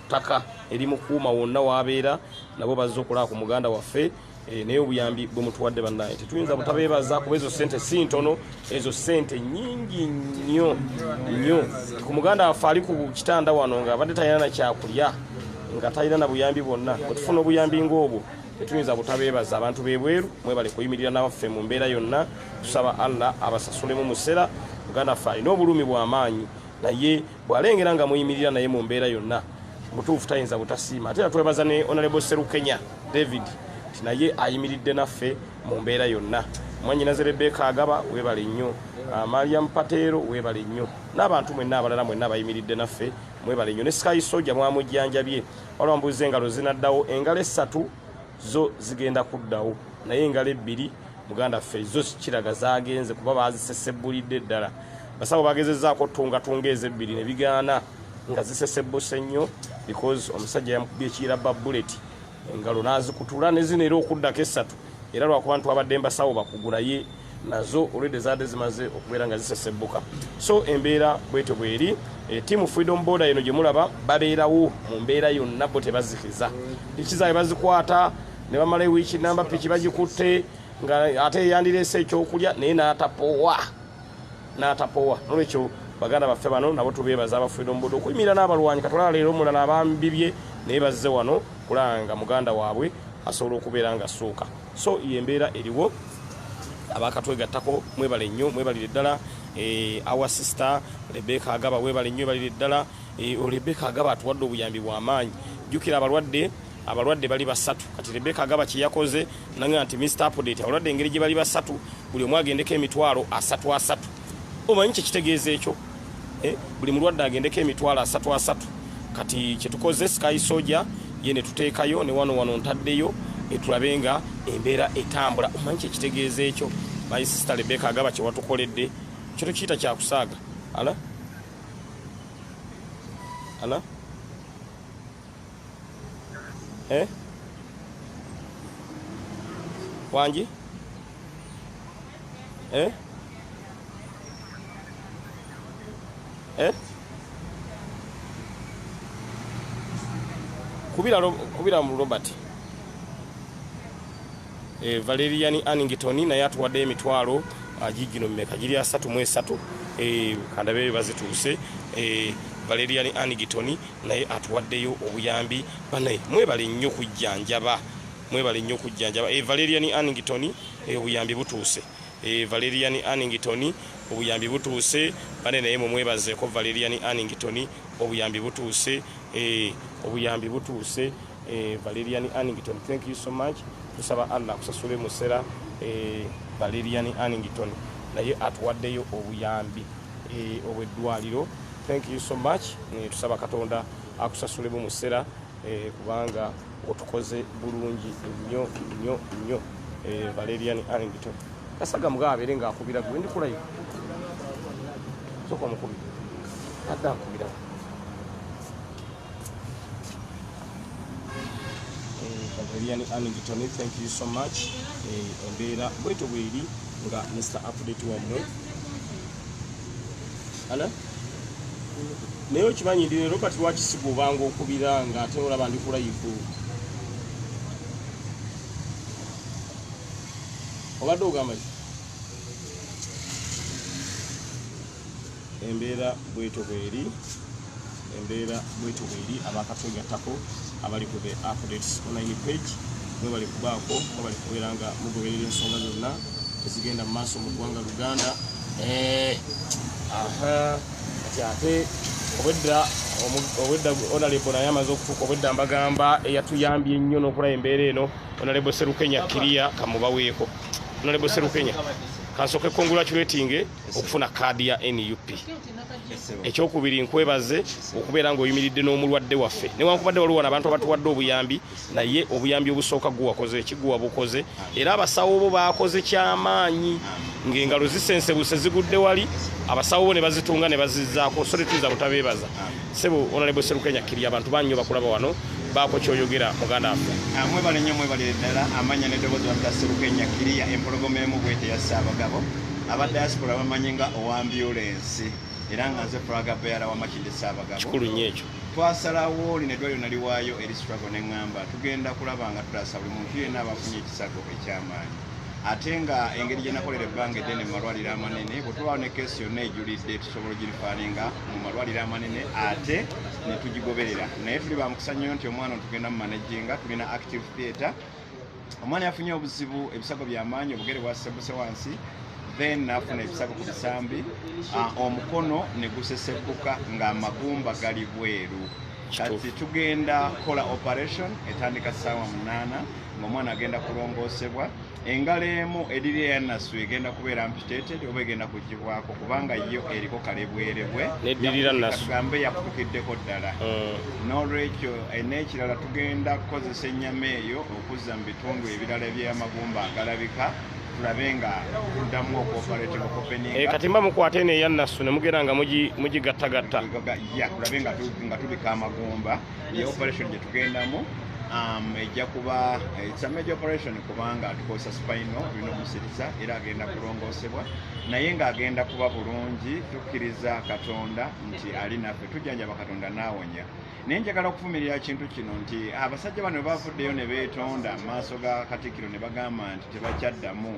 ttaka erimukuuma wonna wabeera nabo bazze okulaba ku muganda waffe eh, naye obuyambi bwe mutuwadde bannaye tetuyinza butabeebaza kuba ezo sente si ntono ezo sente nyingi nnyo nnyo ku muganda waffe ali ku kitanda wano nga abadde talina na kyakulya nga talina na buyambi bwonna otufuna obuyambi ng'obwo tetuyinza butabeebaza abantu bebweru mwebale kuyimirira nabaffe mu mbeera yonna tusaba allah abasasulemu musera muganda waffe alina obulumi bw'amaanyi naye bwalengera nga muyimirira naye mu mbeera yonna mutuufu tayinza butasiima ate era twebaza ne onalebo serukenya david nti naye ayimiridde naffe mu mbeera yonna mwanyinaze rebeka agaba webale nnyo ah, mariam pateero webale nnyo n'abantu mwenna abalala mwenna abayimiridde naffe mwebale nnyo ne sky soja mwamujjanjabye waliwo mbuuza engalo zinaddawo engalo essatu zo zigenda kuddawo naye engalo ebbiri muganda ffe zo kiraga zagenze kuba bazisesebbulidde ddala basawo bagezezaako tungatunga ezo ebbiri ne bigaana nga zisesebbuse nnyo because omusajja yamukubye ekiyira ba buleti engalo n'azikutula ne zino era okuddako essatu era lwakuba nti wabadde mbasawo bakugulaye nazo olwedde zaadde zimaze okubeera nga zisesebbuka so embeera bwetyo bweri e, eh, tiamu freedom border eno gyemulaba babeerawo mu mbeera yonna bo tebazikiza piki zaabwe bazikwata ne bamala ewiiki namba piki bagikutte nga ate eyandireese ekyokulya naye n'atapowa n'atapowa nolwekyo baganda baffe bano nabo tubeebaza aba freedom border okuyimirira n'abalwanyi katulala leero omulala abambibye naye bazze wano kulanga muganda waabwe asobola okubeera nga suuka so yembeera eriwo abakatwegattako mwebale nnyo mwebalire ddala eh, our sister rebeka agaba webale nnyo ebalire ddala eh, rebeka agaba atuwadde obuyambi bwamaanyi jjukira abalwadde abalwadde bali basatu kati rebeka agaba kyeyakoze naga nti mr apdate abalwadde engeri gye bali basatu buli omu agendeko emitwalo asatu asatu omanyi kyekitegeeza ekyo eh, buli mulwadde agendeko emitwalo asatu asatu kati kyetukoze sky soja ye netuteekayo ne wano wano ntaddeyo etulabe nga embeera etambula omanyi kyekitegeeza ekyo my sister lebeka agaba kyewatukoledde kyo tukiyita kyakusaaga ala ala eh? wangi eh? Eh? kubira kubira mu Robert eh, Valerian Annington naye atuwadde emitwalo agigino ah, mmeka giri asatu mu esatu eh, kandabe bazituuse eh, Valerian Annington naye atuwaddeyo obuyambi banaye mwebale nnyo kujjanjaba Mwebale nnyo kujjanjaba. E Valerian Annington e, obuyambi butuuse. E Valerian Annington obuyambi butuuse. Bane naye mumwebazeeko Valerian Annington obuyambi butuuse. E, obuyambi butuuse. E, Valerian Annington thank you so much. Tusaba Allah kusasule musera e, Valerian Annington naye atuwaddeyo obuyambi e, obweddwaliro. Thank you so much. E, tusaba Katonda akusasule mu musera e, kubanga otukoze bulungi nyo nyo nyo eh, valerian arlington kasaga mugabo abeere nga akubira gwe ndikulayo soka omukubi adde akubira eh, valerian arlington thank you so much eh, embeera bweto bweri nga mr update wamwe Ana? Naye okimanyi ndi ne Robert lwaki sigobanga okubira nga ate olaba ndi ku layivu. Obadde ogamba ki? Embeera bwetyo bweri. Embeera bwetyo bweri abakatwegattako abali ku The Updates Online Page. Mwebale kubaako, mwebale kubeera nga mugoberera ensonga zonna ezigenda mu maaso mu ggwanga Luganda. Eh, aha, kati ate obwedda omu- obwedda Honorable naye amaze okutuuka obwedda mbagamba eyatuyambye ennyo n'okulaba embeera eno Honorable Serukenya Kiria kamubaweeko. Honorable Serukenya kansooke congratulating okufuna kaadi ya NUP. ekyokubiri nkwebaze okubeera ngaoyimiridde n'omulwadde waffe newankubadde waliwo wano abantu abatuwadde obuyambi naye obuyambi obusooka guwakoze ekiguwa bukoze era abasawo bo bakoze kyamaanyi ngaengalo zisensebuse zigudde wali abasawo bo ne bazitunga ne bazizaako so tetuyinza butabeebaza Sebo Honorable Serukenya Kirya abantu banyo bakulaba wano baako kyoyogera muganda waffe. Ah, mwebale nnyo mwebalire ddala amanya n'eddoboozi wabita Serukenya Kirya empologoma emu bwete ya Ssaabagabo aba diaspora bamanyi nga owa ambulensi era nga nze fulaga beera wa Makindye Ssaabagabo. Kikulu nnyo ekyo. Twasalawo lino eddwaliro naliwaayo eri struggle ne ŋŋamba tugenda kulaba nga tutaasa buli muntu yenna aba afunye ekisago eky'amaanyi. ate nga engeri gyenakolera ebbanga eddene mu malwaliro amanene bwetubaawo ne keesi yonna ejulidde tusobola ogirifaalinga mu malwaliro amanene ate netugigoberera naye tuli bamukisa nnyo nti omwana otugenda mu manajinga tulina active theatre omwana yafunye obuzibu ebisago byamaanyi obugere bwasesebuse wansi then nafuna ebisago ku bisambi ah, omukono negusesekuka ng'amagumba gali bweru kati tugenda kola operation etandika saawa munaana ngaomwana agenda kulongoosebwa engalo emu ediri eyanasu egenda kubeera mpiteted oba egenda kugibwako kubanga yo eriko kalebwerebwe gambe yakutukiddeko ddala mm. nolwekyo n'ekirala tugenda kukozesa ennyama eyo okuzza mu bitundu ebirala ebyamagumba agalabika tulabe nga tuddamu okwopaleteka okupeninga eh, kati mba mukwata eno eya nassu ne mugera nga mugigattagatta ya tulabe nga tubika amagumba ye operation gye tugendamu um, ejja kuba eh, it's a major operation kubanga tukozesa spino tulina omusiriza era agenda kulongoosebwa naye ng'agenda kuba bulungi tukkiriza katonda nti ali naffe tujjanjaba katonda n'awonya naye njagala okuvumirira kintu kino nti abasajja bano bavuddeyo ne beetonda mu maaso ga katikkiro ne bagamba nti tebakyaddamu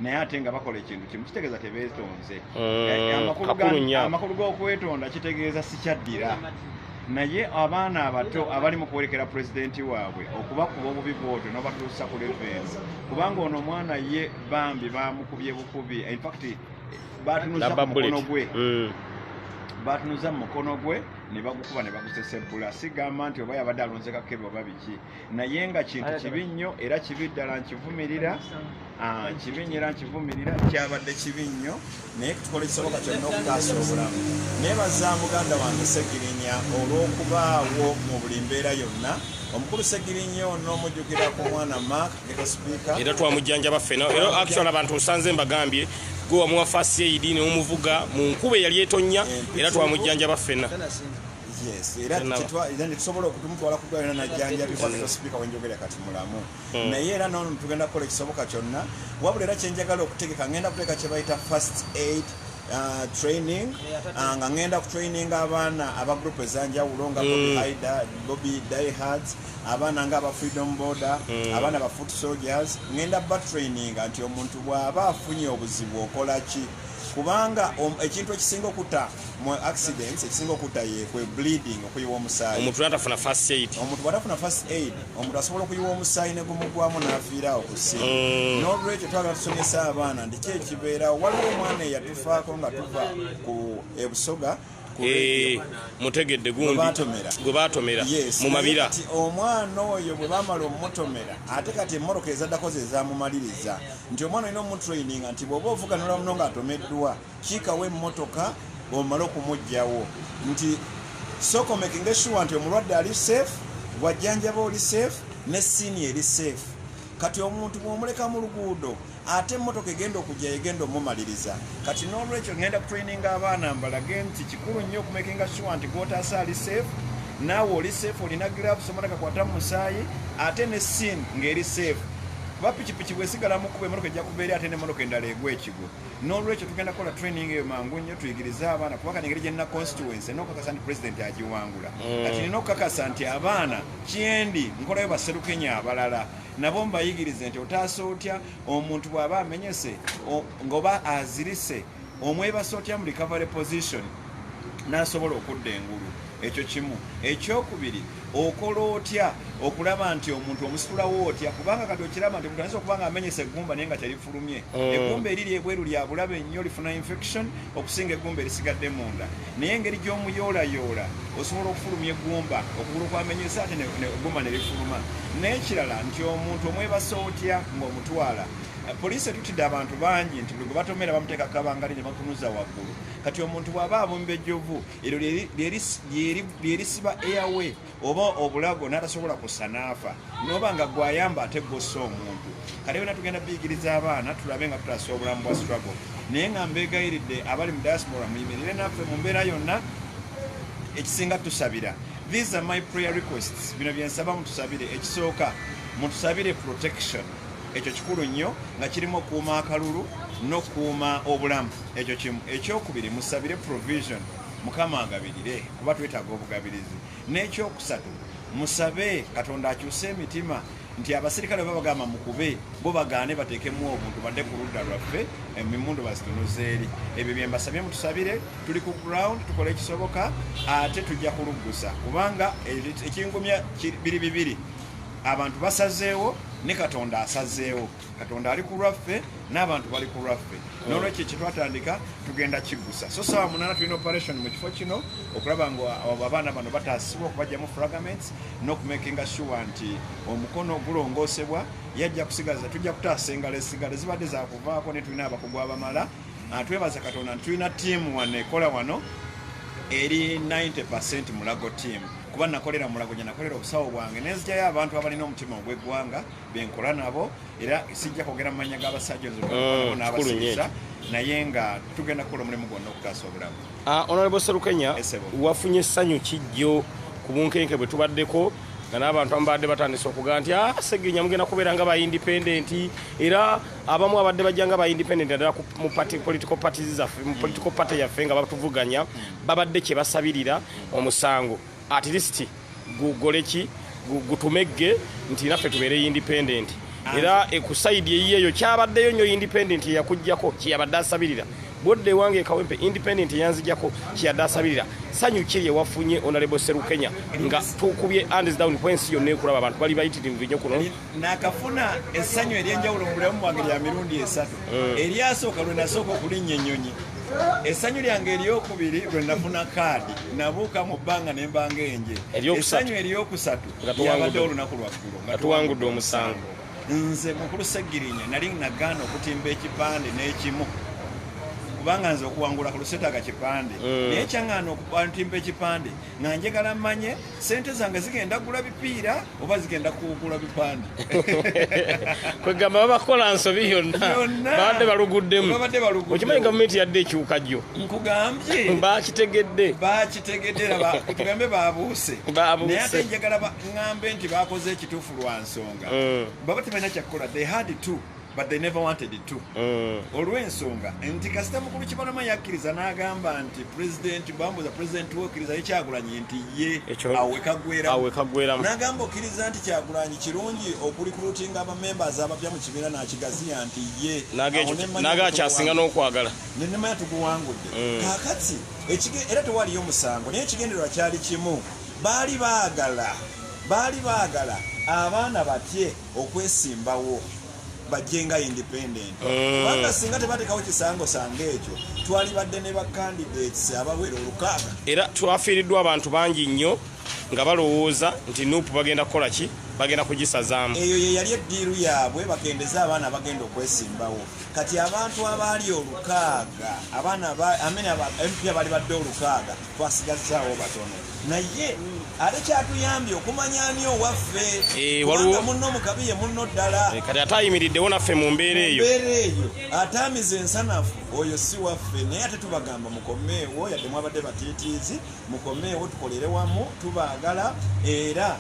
naye ate nga bakola ekintu kimu kitegeeza tebeetonze mm, eh, eh, amakulu g'okwetonda kitegeeza sikyaddira naye abaana abato abali mu kuwerekera pulezidenti waabwe okubakuba obubi bwotyo n'obatuusa ku levensi kubanga ono omwana ye bambi bamukubye bukubi infact batunuza mu mukono gwe mm. batunuza mu mukono gwe nebagukuba nebagusesebbula sigamba nti oba yabadde alonze kakebe oba biki naye nga kintu kibi nnyo era kibi ddala nkivumirira ah, kibi nyo era nkivumirira kyabadde kibi nnyo naye tukola ekisoboka kyonna okutaasa obulamu naye baza muganda wange segirinya olw'okubaawo mu buli mbeera yonna omukulu segirinya ono omujjukira ku mwana mak era twamujjanjaba ffena era actual abantu osanze mbagambye gwe wamuwa fasi eidi neomuvuga mu nkuba eyali etonya era twamujjanjaba ffena tusobola okutumutwala kudwaliro najjanjabibwa sipiika wenjogera kati mulamu hmm. naye era nono tugenda kukola ekisoboka kyonna wabula era kyenjagala okutegeka ngenda kuteeka kyebayita fast aid Uh, training uh, nga ngenda kutraininga abaana aba group ezanjawulo nga bobi hmm. hida bobi dihards abaana nga aba freedom border mm. abaana ba foot soldiers ngenda batraininga nti omuntu bw'aba afunye obuzibu okola ki kubanga ekintu ekisinga okuta mu accidents ekisinga okuta yekwe bleeding okuyiwa omusaayi omuntu atafuna first aid omuntu bwatafuna first aid omuntu asobola okuyiwa omusaayi ne gumugwamu n'afiira awo kusi mm. n'olwekyo twagala tusomesa abaana ndiki ekibeerawo waliwo omwana eyatufaako nga tuva ku ebusoga Eh, mutegedde gundi gwe batomera mu mabira omwana oyo bwe bamala omutomera ate kati emmoroka ezaddako ze zamumaliriza nti omwana olina omutraininga nti bwoba ovuganula muno nga atomeddwa kiikawo emmotoka omale okumugjawo nti sokomekinga eshuwa nti omulwadde ali safe gwajjanjaba oli safe ne siini eri safe kati omuntu bwomuleka mu luguudo ate emmotoka egenda okujja yegenda omumaliriza kati n'olwekyo ngenda kutraininga abaana mbalage nti kikulu nnyo okumakinga sure nti gwotaasa ali safe naawe oli safe olina gloves omala kakwata mu musaayi ate ne sin ng'eri safe kuba pikipiki bwesigala mukuba emotoka ejja kuva eri ate nemotoka endala egwa ekigo n'olwekyo tugenda kukola training eyo mangu nnyo tuyigirize abaana kuba kanengeri gyena constituency n'okukakasa nti president agiwangula mm. kati nina okukakasa nti abaana kyendi nkolayo baserukenya abalala nabo mbayigirize nti otaasa otya omuntu bw'aba amenyese ng'oba azirise omwebasa otya mu recovery position n'asobola okudda engulu ekyo kimu ekyokubiri okola otya okulaba nti omuntu omusitulawo otya kubanga kati okiraba nti omuntu ayinza okuba nga amenyesa eggumba naye nga teri fulumye mm. egumba eriri ebweru lya bulabe nnyo lifuna infection okusinga egumba erisigadde munda naye engeri gy'omuyoolayoola osobola okufulumya egumba okugulu kwamenyesa ate egumba ne lifuluma n'ekirala nti omuntu omwebasa otya ng'omutwala eh, poliisi etutidde abantu bangi nti buli gwe batomera bamuteeka kabangali ne bakunuza waggulu kati omuntu bw'aba abumba ejjovu eryo lyerisiba airway oba obulago n'atasobola kussa n'afa n'oba nga gwayamba ate gwossa omuntu kale byona tugenda biyigiriza abaana tulabe nga tutaasa obulamu bwa struggle naye nga mbeegayiridde abali mu diaspora muyimirire naffe mu mbeera yonna ekisinga tusabira these are my prayer requests bino byensaba mutusabire ekisooka mutusabire protection ekyo kikulu nnyo nga kirimu okuuma akalulu n'okuuma obulamu ekyo kimu ekyokubiri musabire provision Mukama agabirire kuba twetaaga obugabirizi. N'ekyokusatu musabe Katonda akyuse emitima nti abasirikale baba bagamba mukube bo bagaane bateekemu obuntu badde ku ludda lwaffe emimundu bazitunuza eri ebyo bye mbasabye mutusabire tuli ku ground tukola ekisoboka ate tujja kuluggusa kubanga ekingumya biri bibiri abantu basazeewo ne katonda asazeewo katonda ali ku lwaffe n'abantu bali ku lwaffe n'olwekyo kyetwatandika tugenda kiggusa so saawa munana tulina operation mu kifo kino okulaba nga abaana bano bataasibwa okubajjamu fragaments n'okumakinga sure nti omukono gulongoosebwa yajja kusigaza tujja kutaasa engalo esigalo zibadde zakuvaako ne tulina abakugu abamala ah, twebaza katonda nti tulina tiimu wano ekola wano eri 90 percent mulago tiimu kuba nakolera mulago gye nakolera obusawo bwange nenzigyayo abantu abalina omutima ogw'eggwanga benkola nabo era sijja kwogera mu mannya g'abasajja mm, n'abasirisa naye nga tugenda kukola omulimu gwonna okutaasa obulamu ah, onalebo serukenya wafunye essanyu kijjo ku bunkenke bwe tubaddeko nga n'abantu ababadde batandise okuga nti ah, segenya mugenda kubeera nga baindependenti era abamu abadde bajja nga baindependenti addala mu political parties zaffe mu political party yaffe nga batuvuganya babadde kye basabirira omusango at least gugole ki gutumegge nti naffe tubeere independent era ekusaidi eyiyo eyo kyabaddeyo nyo independent eyakujjako kyeyabadde asabirira bwodda ewange ekawempe independent eyanzijako kyeyadde asabirira sanyu kiri ewafunye onalebo serukenya nga tukubye ands down kwensi yonna ekulaba abantu bali bayitirivu nyo kuno nakafuna essanyu ery'enjawulo mu bulamu bwange lya mirundi esatu mm. eryasooka lwe nasooka okulinnya ennyonyi essanyu lyange eryokubiri lwe nafuna kaadi nabuuka mu bbanga ne mbanga enje essanyu eryokusatu lyabadde olunaku lwaggulo nga tuwangudde omusango nze mukulu segirinya nali nagaana okutimba ekipande n'ekimu kubanga nze okuwangula ku lusetaaga kipande mm. naye kyaŋŋaana okutimba ekipande nga njagala mmanye sente zange zigenda kugula bipiira oba zigenda kugula bipande kwegamba babakola nsobi yonnababadde baluguddemu okimanyi gavumenti yadde ekyuka jjo nkugambye bakitegedde bakitegedde tugambe babuuse naye ate njagala ŋambe nti bakoze ekituufu lwa nsonga mm. baba tebalina kyakukola they had to but they never wanted it to mm. olw'ensonga nti kasita mukulu kibalama yakkiriza n'agamba nti president bambuza president wokkiriza ye kyagulanyi nti ye awekagweramu n'agamba okkiriza nti kyagulanyi kirungi okulikulutinga abamembers abapya mu kibiina n'akigaziya nti ye naga kyasinga n'okwagala nenemanya tuguwangudde mm. kakati era tewaliyo musango naye ekigendererwa kyali kimu baali baagala baali baagala abaana batye okwesimbawo bajje nga independent mm. kubanga singa tebatekawo kisango sanga ekyo twalibadde ne bacandidates abawera olukaaga era twafiiriddwa abantu bangi nnyo nga balowooza nti nup bagenda kukola ki bagenda kugisazaamu eyo yeyali eddiiru yaabwe bakendeze abaana bagenda okwesimbawo kati abantu abaali olukaaga abaana amene mpi abali badde olukaaga twasigazaawo batono naye ate kyatuyambye okumanya ani owaffe eh, kubanga munno mukabi ye munno ddala eh, kati ate ayimiriddewo naffe mu mbeera eyo mbeera eyo ataamiza ensanafu oyo si waffe naye ate tubagamba mukomeewo yadde mwabadde batiitiizi mukomeewo tukolere wamu tubaagala era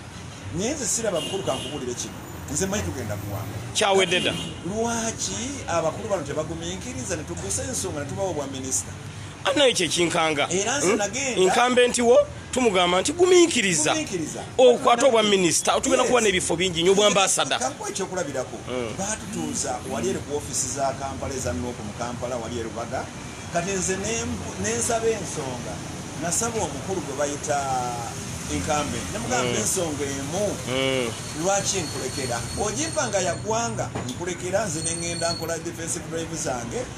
naye nze siraba mukulu kankubulire kino nze manyi tugenda kuwanga kyawededa lwaki abakulu bano tebagumiikiriza netugusa ensonga netubawo obwa minisita annayo kye kinkanga hmm? nkambe ntiwo tumugamba nti gumiikiriza okwata obwa minisita otugenda kuba n'ebifo bingi nyo obwambasada ekyokulabirako hmm. batutuuza wali eri ku ofiisi za kampala eza nuoku mu kampala wali erubaga kati nze nensaba ensonga nasaba omukulu gwe bayita enkambe nemugamba mm. ensonga emu mm. lwaki nkulekera ojimpa nga yagwanga nkulekera nze nengenda nkola defensive drive zange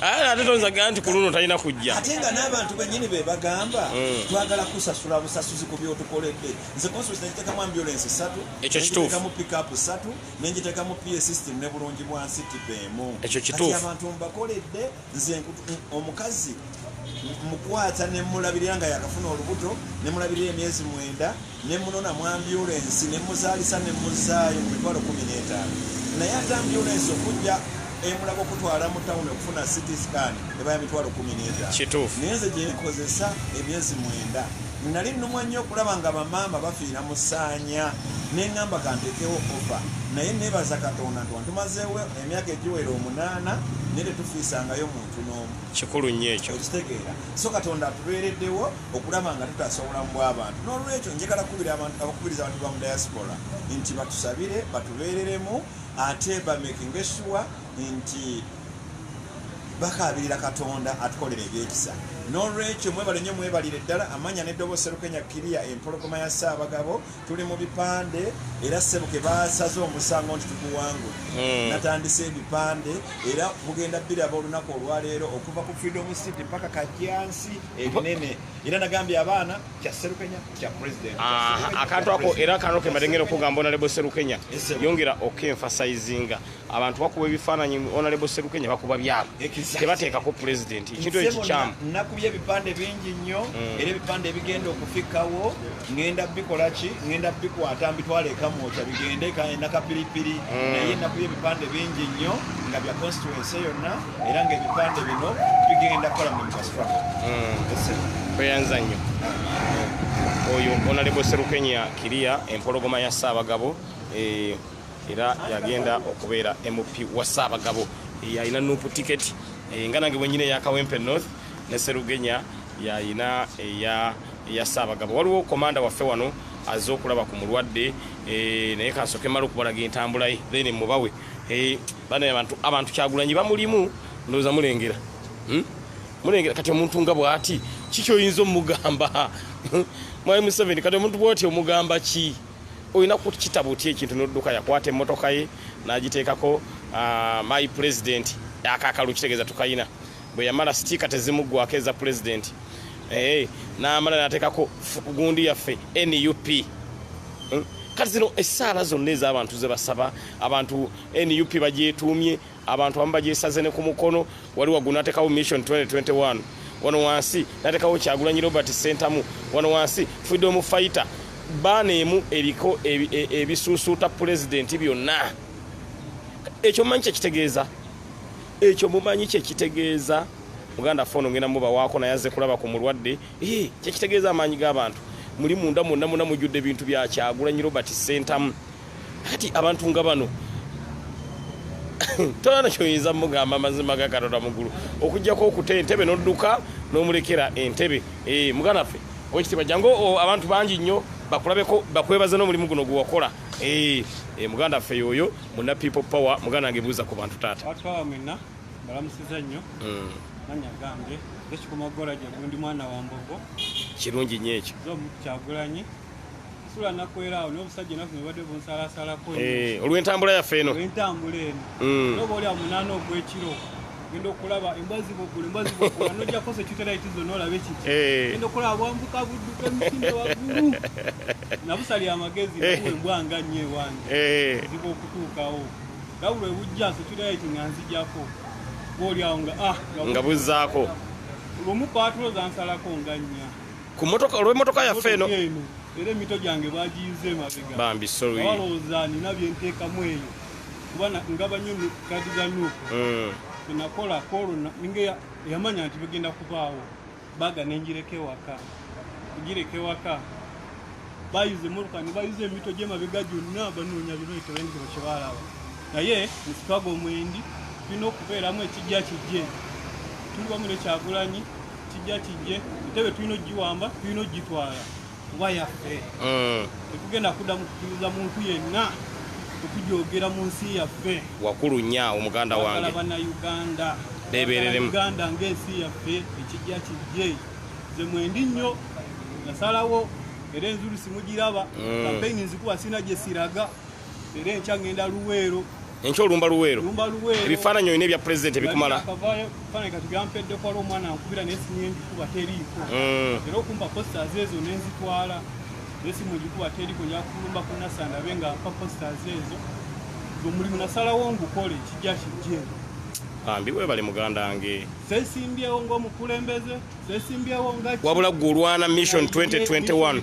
Ala ate tonza gamba nti ku luno talina kujja. Ate nga n'abantu bennyini be bagamba mm. twagala kusasula busasuzi ku by'otukoledde. Nze constituency nagiteekamu ambulance ssatu, ekyo kituufu. Nagiteekamu pickup ssatu, ne ngiteekamu PA system ne bulungi bwa nsi tiba emu. Ekyo kituufu. Kati abantu mbakoledde nze omukazi mukwata ne mulabirira nga yakafuna olubuto ne mulabirira emyezi mwenda. Ne mmunona mu ambyulensi ne mmuzaalisa ne mmuzzaayo ku mitwalo kkumi n'etaano naye ate ambyulensi okujja e Mulago okutwala mu tawuni okufuna City Scan eba ya mitwalo kkumi n'etaano naye nze gye nkozesa emyezi mwenda. Nnali nnumwa nnyo okulaba nga bamaama bafiira mu ssaanya ne ŋŋamba kanteekewo ofa naye nneebaza Katonda nti wantumazeewo emyaka egiwera omunaana naye tetufiisangayo muntu n'omu. Kikulu nnyo ekyo. Okitegeera? So Katonda atubeereddewo. okulaba nga tutaasa obulamu bw'abantu n'olwekyo njagala kukubira abantu abakubiriza abantu ba mu diaspora nti batusabire batubeereremu ate bamekinga essuwa nti bakaabirira katonda atukolera ebyekisa n'olwekyo mwebale nyo mwebalire ddala amanya neddobo serukenya kiriya empologoma ya ssaabagabo tuli mu bipande era sebuke basaze omusango nti tuguwangu hmm. natandise ebipande era bugenda biraba olunaku olwaleero okuva ku freedom city mpaka kajyansi ebinene era nagambye abaana kya serukenya kya president ah, akantu ako era kano kemadengera okugamba onalebo serukenya yongera okenfasizinga abantu bakuba ebifaananyi onalebo serukenya bakuba byabo tebateekako president ekintu ekikyamu nakubye ebipande bingi nnyo mm. era ebipande ebigenda okufikawo ngenda bikolaki ngenda bikwata mbitwala ekamwokya bigende kanakapiripiri mm. naye nakubye ebipande bingi nnyo nga bya constituency yonna era ng'ebipande bino bigenda kukola mu infrastructure hmm. tweyanza nnyo oyo onalebo serukenya kiriya empologoma ya ssaabagabo eh, era yagenda okubeera mp wa ssaabagabo eh, yalina nupu tiketi eh, nga nange bwenyina eya kawempe north ne serugenya yalina eya eya ssaabagabo waliwo komanda waffe wano azze okulaba ku mulwadde naye kasoke mala okubalaga entambulaye then mubawe bana abantu abantu kyagulanyi bamulimu ndoza mulengera hmm? mulengera kati omuntu nga bwati kikyo yinzo mugamba mwaye museveni kati omuntu bwati omugamba ki oyina ku kitabo ti ekintu nodduka yakwata emotoka ye nagitekako uh, my president akakalu kitegeza tukayina bwe yamala stika tezimugwako eza president hey, eh, namala natekako gundi yaffe nup hmm? kati zino esaala zonna ez'abantu zebasaba abantu nup bagyetuumye abantu abamu bagyesaze ne ku mukono wali waggulu natekawo mission 2021 wano wansi natekawo kyagulanyi robert sentamu wano wansi freedom fighter baana emu eriko e, ebisuusuuta pulezidenti byonna ekyo mumanyi kyekitegeeza ekyo mumanyi kyekitegeeza muganda foono ngenda mubawaako naye aze kulaba ku mulwadde kyekitegeeza amaanyi g'abantu muli munda mwonna mwonna mujjudde ebintu byakyagulanyi robert sentamu kati abantu nga bano tolana kyoyinza mugamba amazima gakatonda mugulu okujjako okuta entebe nodduka nomulekera entebe eh, muganda ffe owekitiibwa jangu abantu bangi nnyo bakulabeko bakwebaze n'omulimu guno gwewakola eh, eh, muganda ffe yoyo muna people power muganda nge buuza ku bantu taata balamusiza nnyo mm. manya gambye ekikuma gola gyegundi mwana wa mbogo kirungi nnyo ekyo kyagulanyi nsula nakwera awo n'obusajja enaku zino badde bunsalasalako eh, olw'entambula yaffe eno olw'entambula eno mm. noba oli amunaana ogw'ekiro genda okulaba embwa zibugula embwa zibugula nojja kosa ekiuteraiti zonna olaba ekiki eh. genda okulaba bwambuka budduka emisinde waggulu nabusali amagezi eh. nakuwa embwa nga nnyo ewange ziba okutuukawo lawula ebujja security nga nzijako bwoli awo nga ah nga buzaako lumu patulo zansalako nga nnya ku motoka olw'emmotoka yaffe eno era emito gyange bagiyize mabega bambi sorry balowooza nina bye nteekamu eyo kuba ngaba nnyo kadi za nuuku hmm. nakola koolo ninga yamanya nti bigenda kubaawo baga nenjireka ewaka kugireka ewaka bayuza emmotoka ne bayuza emito gy'emabega gyonna banoonya bireeto bendiba kye baalaba naye musitwago omwendi tulina okubeeramu ekijja kijje tuli wamu nekyagulanyi kijja kijje ntebe tulina ogiwamba tulina ogitwala kuba yaffe mm. tetugenda kudda mukukiriza muntu yenna okujogera mu nsi yaffe wakulu nya omuganda wange banauganda bebereremuganda ngaensi yaffe ekijja kijje ze mwendi nnyo nasalawo era enzulu simugiraba mm. kampeyini nzikuba sina gyesiraga era enkya ngenda luweero enkya olumba luweero ebifaananyi olina ebya pulezidenti ebikumala esimu gikuba teriko yakulumba ku nasanda be nga mpa postas ezo omulimu nasalawo ngukole kijja kijje bambi webale muganda wange sesimbyewo ngaomukulembeze sesimbyewo nga wabula gwe olwana mission 2021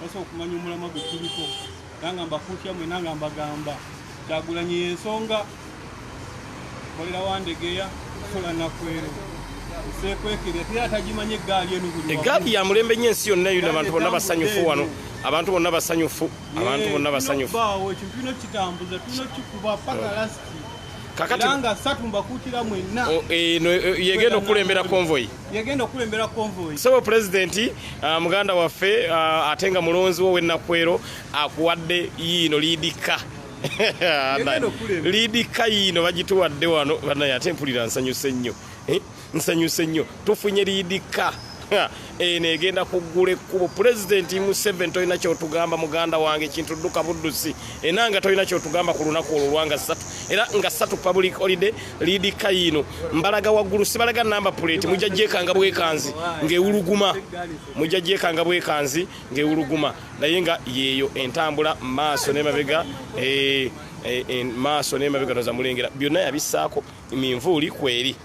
basa okumanya omulama gwe tuliko era nga mbakuutya mwena nga mbagamba kyagulanyi yensonga kolera wandegeya kusola nakwero egaali ya mulembe nyo ensi yonna yona abantu bonna basanyufu wano abantu bonna basanyufu abantu bonna basanyufu kakati yegenda okukulembera konvoyi yagenda okulembera konvoyi sebo pulezidenti uh, muganda waffe uh, ate nga mulonzi wo wenakwero akuwadde yiino liidikka liidikka yiino bagituwadde wano banaye ate mpulira nsanyuse nnyo eh? nsanyuse nnyo tufunye liidikka eno egenda kuggula ekkubo pulezidenti museven tolina kyotugamba muganda wange ekintu dduka buddusi enanga tolina kyotugamba ku lunaku olwo lwanga ssatu era nga ssatu public holiday liidi kayiino mbalaga waggulu sibalaga namba puleeti mujja gyekanga bwekanzi ng'ewuluguma mujja gyekanga bwekanzi ng'ewuluguma naye nga yeeyo entambula maaso nemabega eh, eh, eh, maaso nemabega noza mulengera byonna yabissaako minvuuli kweri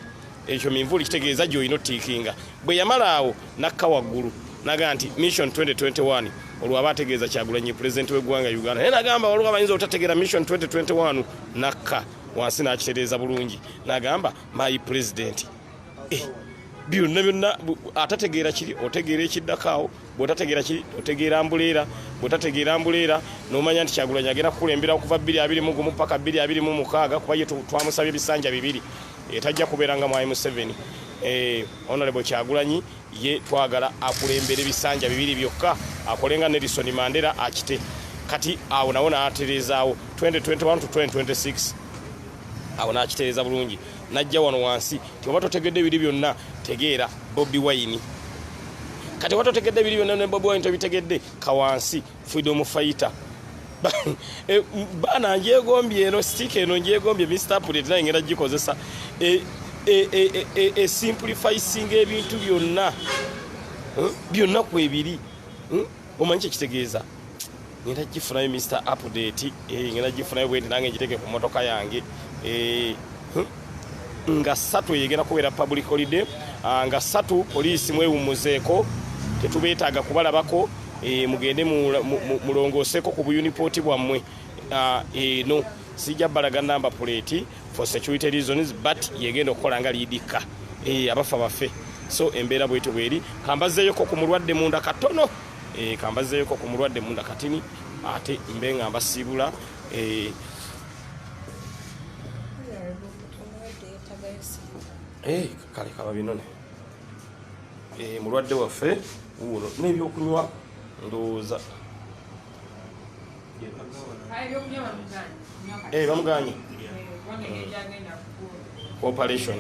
ekyo minvuuli kitegeeza gyolina otiikinga bwe yamala awo nakka waggulu naga nti mission 2021 olwaba ategeeza kyagulanyi pulezidenti w'eggwanga uganda naye nagamba waliwo abayinza obutategeera mission 2021 nakka wansi n'akitereeza bulungi n'agamba my president eh, byonna byonna atategeera kiri otegeera ekiddakaawo bwotategeera kiri otegeera mbuleera bwotategeera mbuleera nomanya nti kyagulanyi agenda kukulembera okuva bbiri abiri mu gumu paka bbiri abiri mu mukaaga kuba ye twamusabye ebisanja bibiri etajja eh, kubeera nga mwayi museveni eh, honorable kyagulanyi ye twagala akulembere bisanja bibiri byokka akole nga nelison mandera akite kati awo nawo natereezaawo 2021 to 2026 awo nakitereeza bulungi najja wano wansi tioba totegedde ebiri byonna tegeera bobi wayini kati oba totegedde ebiri byonna ne bobi wayini tobitegedde kawansi freedom fighter eh, baana njegombye eno stika eno njegombye mr pulet naye ngenda gikozesa esimplifisinga eh, eh, ebintu byonna byonna kwebiri omanyi kyekitegeeza ngenda gifunayo mr update ngenda gifunayo bwenti nange ngiteke ku motoka yange nga satu eyegenda kubeera public holiday ah, nga satu poliisi mwewummuzeeko tetubeetaaga kubalabako eh, mugende mulongooseeko ku buyunipooti bwammwe ah, eno sijja balaga namba puleeti for security reasons but yegenda okukola nga liidikka eh, abafa baffe so embeera bwetyo bweri kambazeeyoko ku mulwadde munda katono eh, kambazeeyoko ku mulwadde munda katini ate mbe nga mbasiibula Eh, kale kaba binone eh, mulwadde waffe wuuno n'ebyokunywa ndowooza eh, bamuganye operation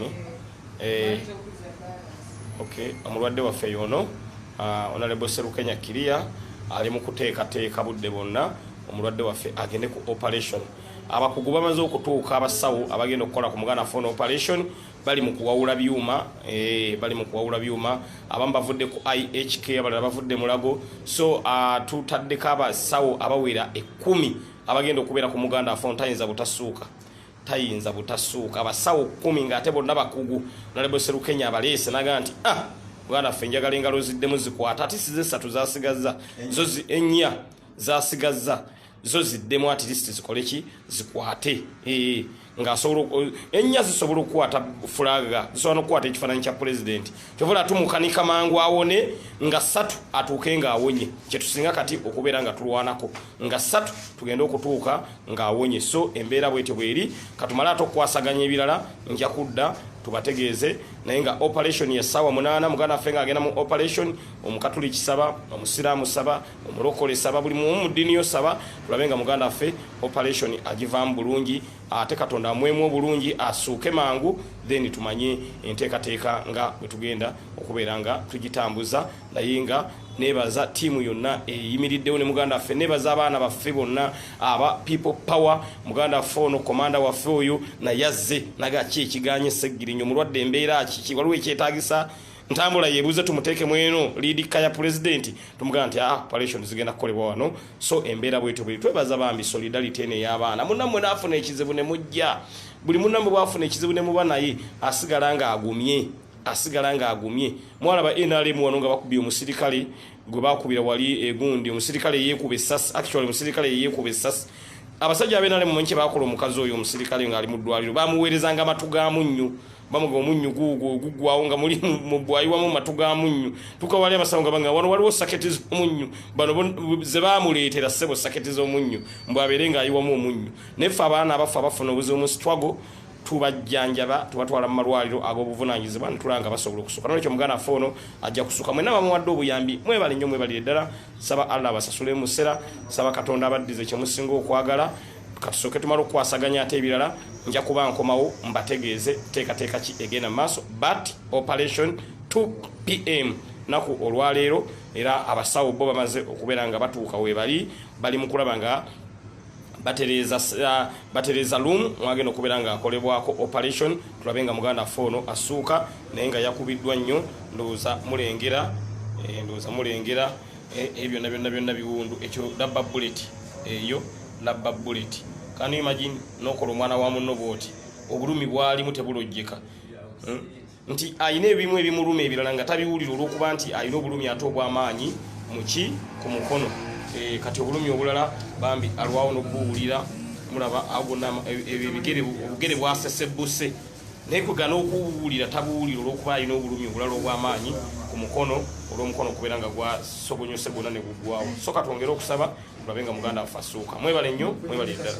ok omulwadde waffe yono ah, onalebo serukenya kiria ali mu kuteekateeka budde bwonna omulwadde waffe agende ku operation abakugu bamaze okutuuka abasawo abagenda okukola ku muganda fon operation bali mu kuwawula byuma eh, bali mu kuwawula byuma abamu bavudde ku ihk abalala bavudde mulago so ah, tutaddeko abasawo abawera ekumi abagenda okubeera ku muganda fon tayinza butasuuka tayinza butasuuka abasawo kumi ngaate bonna bakugu naleboserukenya abaleese naga nti ah, muganda ffe njagala engalo ziddemu zikwata ati size esatu zasigaza zo enya zasigazza zo ziddemu at least zikole ki zikwate eh, nga asobola eh, ennya zisobola okukwata fulaga zisobola nokukwata ekifaananyi kya pulezidenti kyobola tumukanika mangu awone nga satu atuuke nga awonye kyetusinga kati okubeera nga tulwanako nga satu tugende okutuuka nga awonye so embeera bwetyo bweri katumale ate okukwasaganya ebirala nja kudda tubategeeze naye nga operation ya sawa munana mugana fenga agenda mu operation omukatuli kisaba omusiramu saba omulokole saba buli mumu mu ddini yo saba tulabe nga muganda affe operation agivaamu bulungi ate katonda amwemu obulungi asuuke mangu then tumanye enteekateeka nga bwe tugenda okubeera nga tugitambuza naye nga nebaza tiimu yonna eyimiriddewo ne muganda waffe nebaza abaana baffe bonna aba people power muganda waffe ono komanda waffe oyo naye azze naga ki ekiganye seggirinyo mulwadde embeera kiki waliwo ekyetagisa ntambula yebuze tumuteeke mweno lidika ya president tumugamba nti ah operation zigenda kukolebwa wano so embeera bwetyo bwe twebaza bambi solidarity ene y'abaana munammwe n'afuna ekizibu ne mujja buli munammwe bwafuna ekizibu ne muba naye asigala ng'agumye asigala ng'agumye mwalaba nrm wano nga bakubye omusirikale gwe bakubira wali egundi eh, omusirikale yeekuba essasi actually omusirikale yeekuba essasi abasajja abenrm mumanyi kye bakola omukazi oyo omusirikale ng'ali mu ddwaliro bamuweerezanga amatu gaamu nnyo bamuga omunnyu guugwo guggwawo nga muli mubwayiwamu matu ga munnyu tuka wali abasawo nga banga wano waliwo saketi z'omunnyu bano ze bamuleetera ssebo saketi z'omunnyu mbu abeere ng'ayiwamu omunnyu naye ffe abaana abaffe abafuna obuzibu mu sitwago tubajjanjaba tubatwala mu malwaliro ag'obuvunanyizibwa netulanga basobola okusuka nolwekyo muganda affe ono ajja kusuka mwena bamuwadde obuyambi mwebale nnyo mwebalire ddala saba allah abasasulemu musera saba katonda abaddize kyemusinga okwagala kasooke tumala okukwasaganya ate ebirala nja kuba nkomawo mbategeeze teekateeka ki egenda mu maaso but operation 2 pm naku olwaleero era abasawo bo bamaze okubeera nga batuuka webali bali mu kulaba nga batereeza uh, batereeza loom mwagenda okubeera nga akolebwako operation tulabe nga muganda ffe ono asuuka naye nga yakubiddwa nnyo ndowooza mulengera eh, ndowooza mulengera Eh, eh, byonna byonna byonna biwundu ekyo labba bullet eyo labba bullet can you imagine nokola omwana wa munno bwoti obulumi bwalimu tebulojjeka hmm? nti alina ebimu ebimuluma ebirala nga tabiwulira olwokuba nti alina obulumi ate obwamaanyi muki ku mukono eh, kati obulumi obulala bambi alwawo nokubuwulira mulaba agona ebigere obugere bwasesebuse naye kwegana okuwuwulira tabuwulira olwokuba alina obulumi obulala obwamaanyi ku mukono olwomukono okubeera nga gwasobonyose gwona ne guggwawo soka twongere okusaba tulabe nga muganda affe asuuka mwebale nnyo mwebale eddala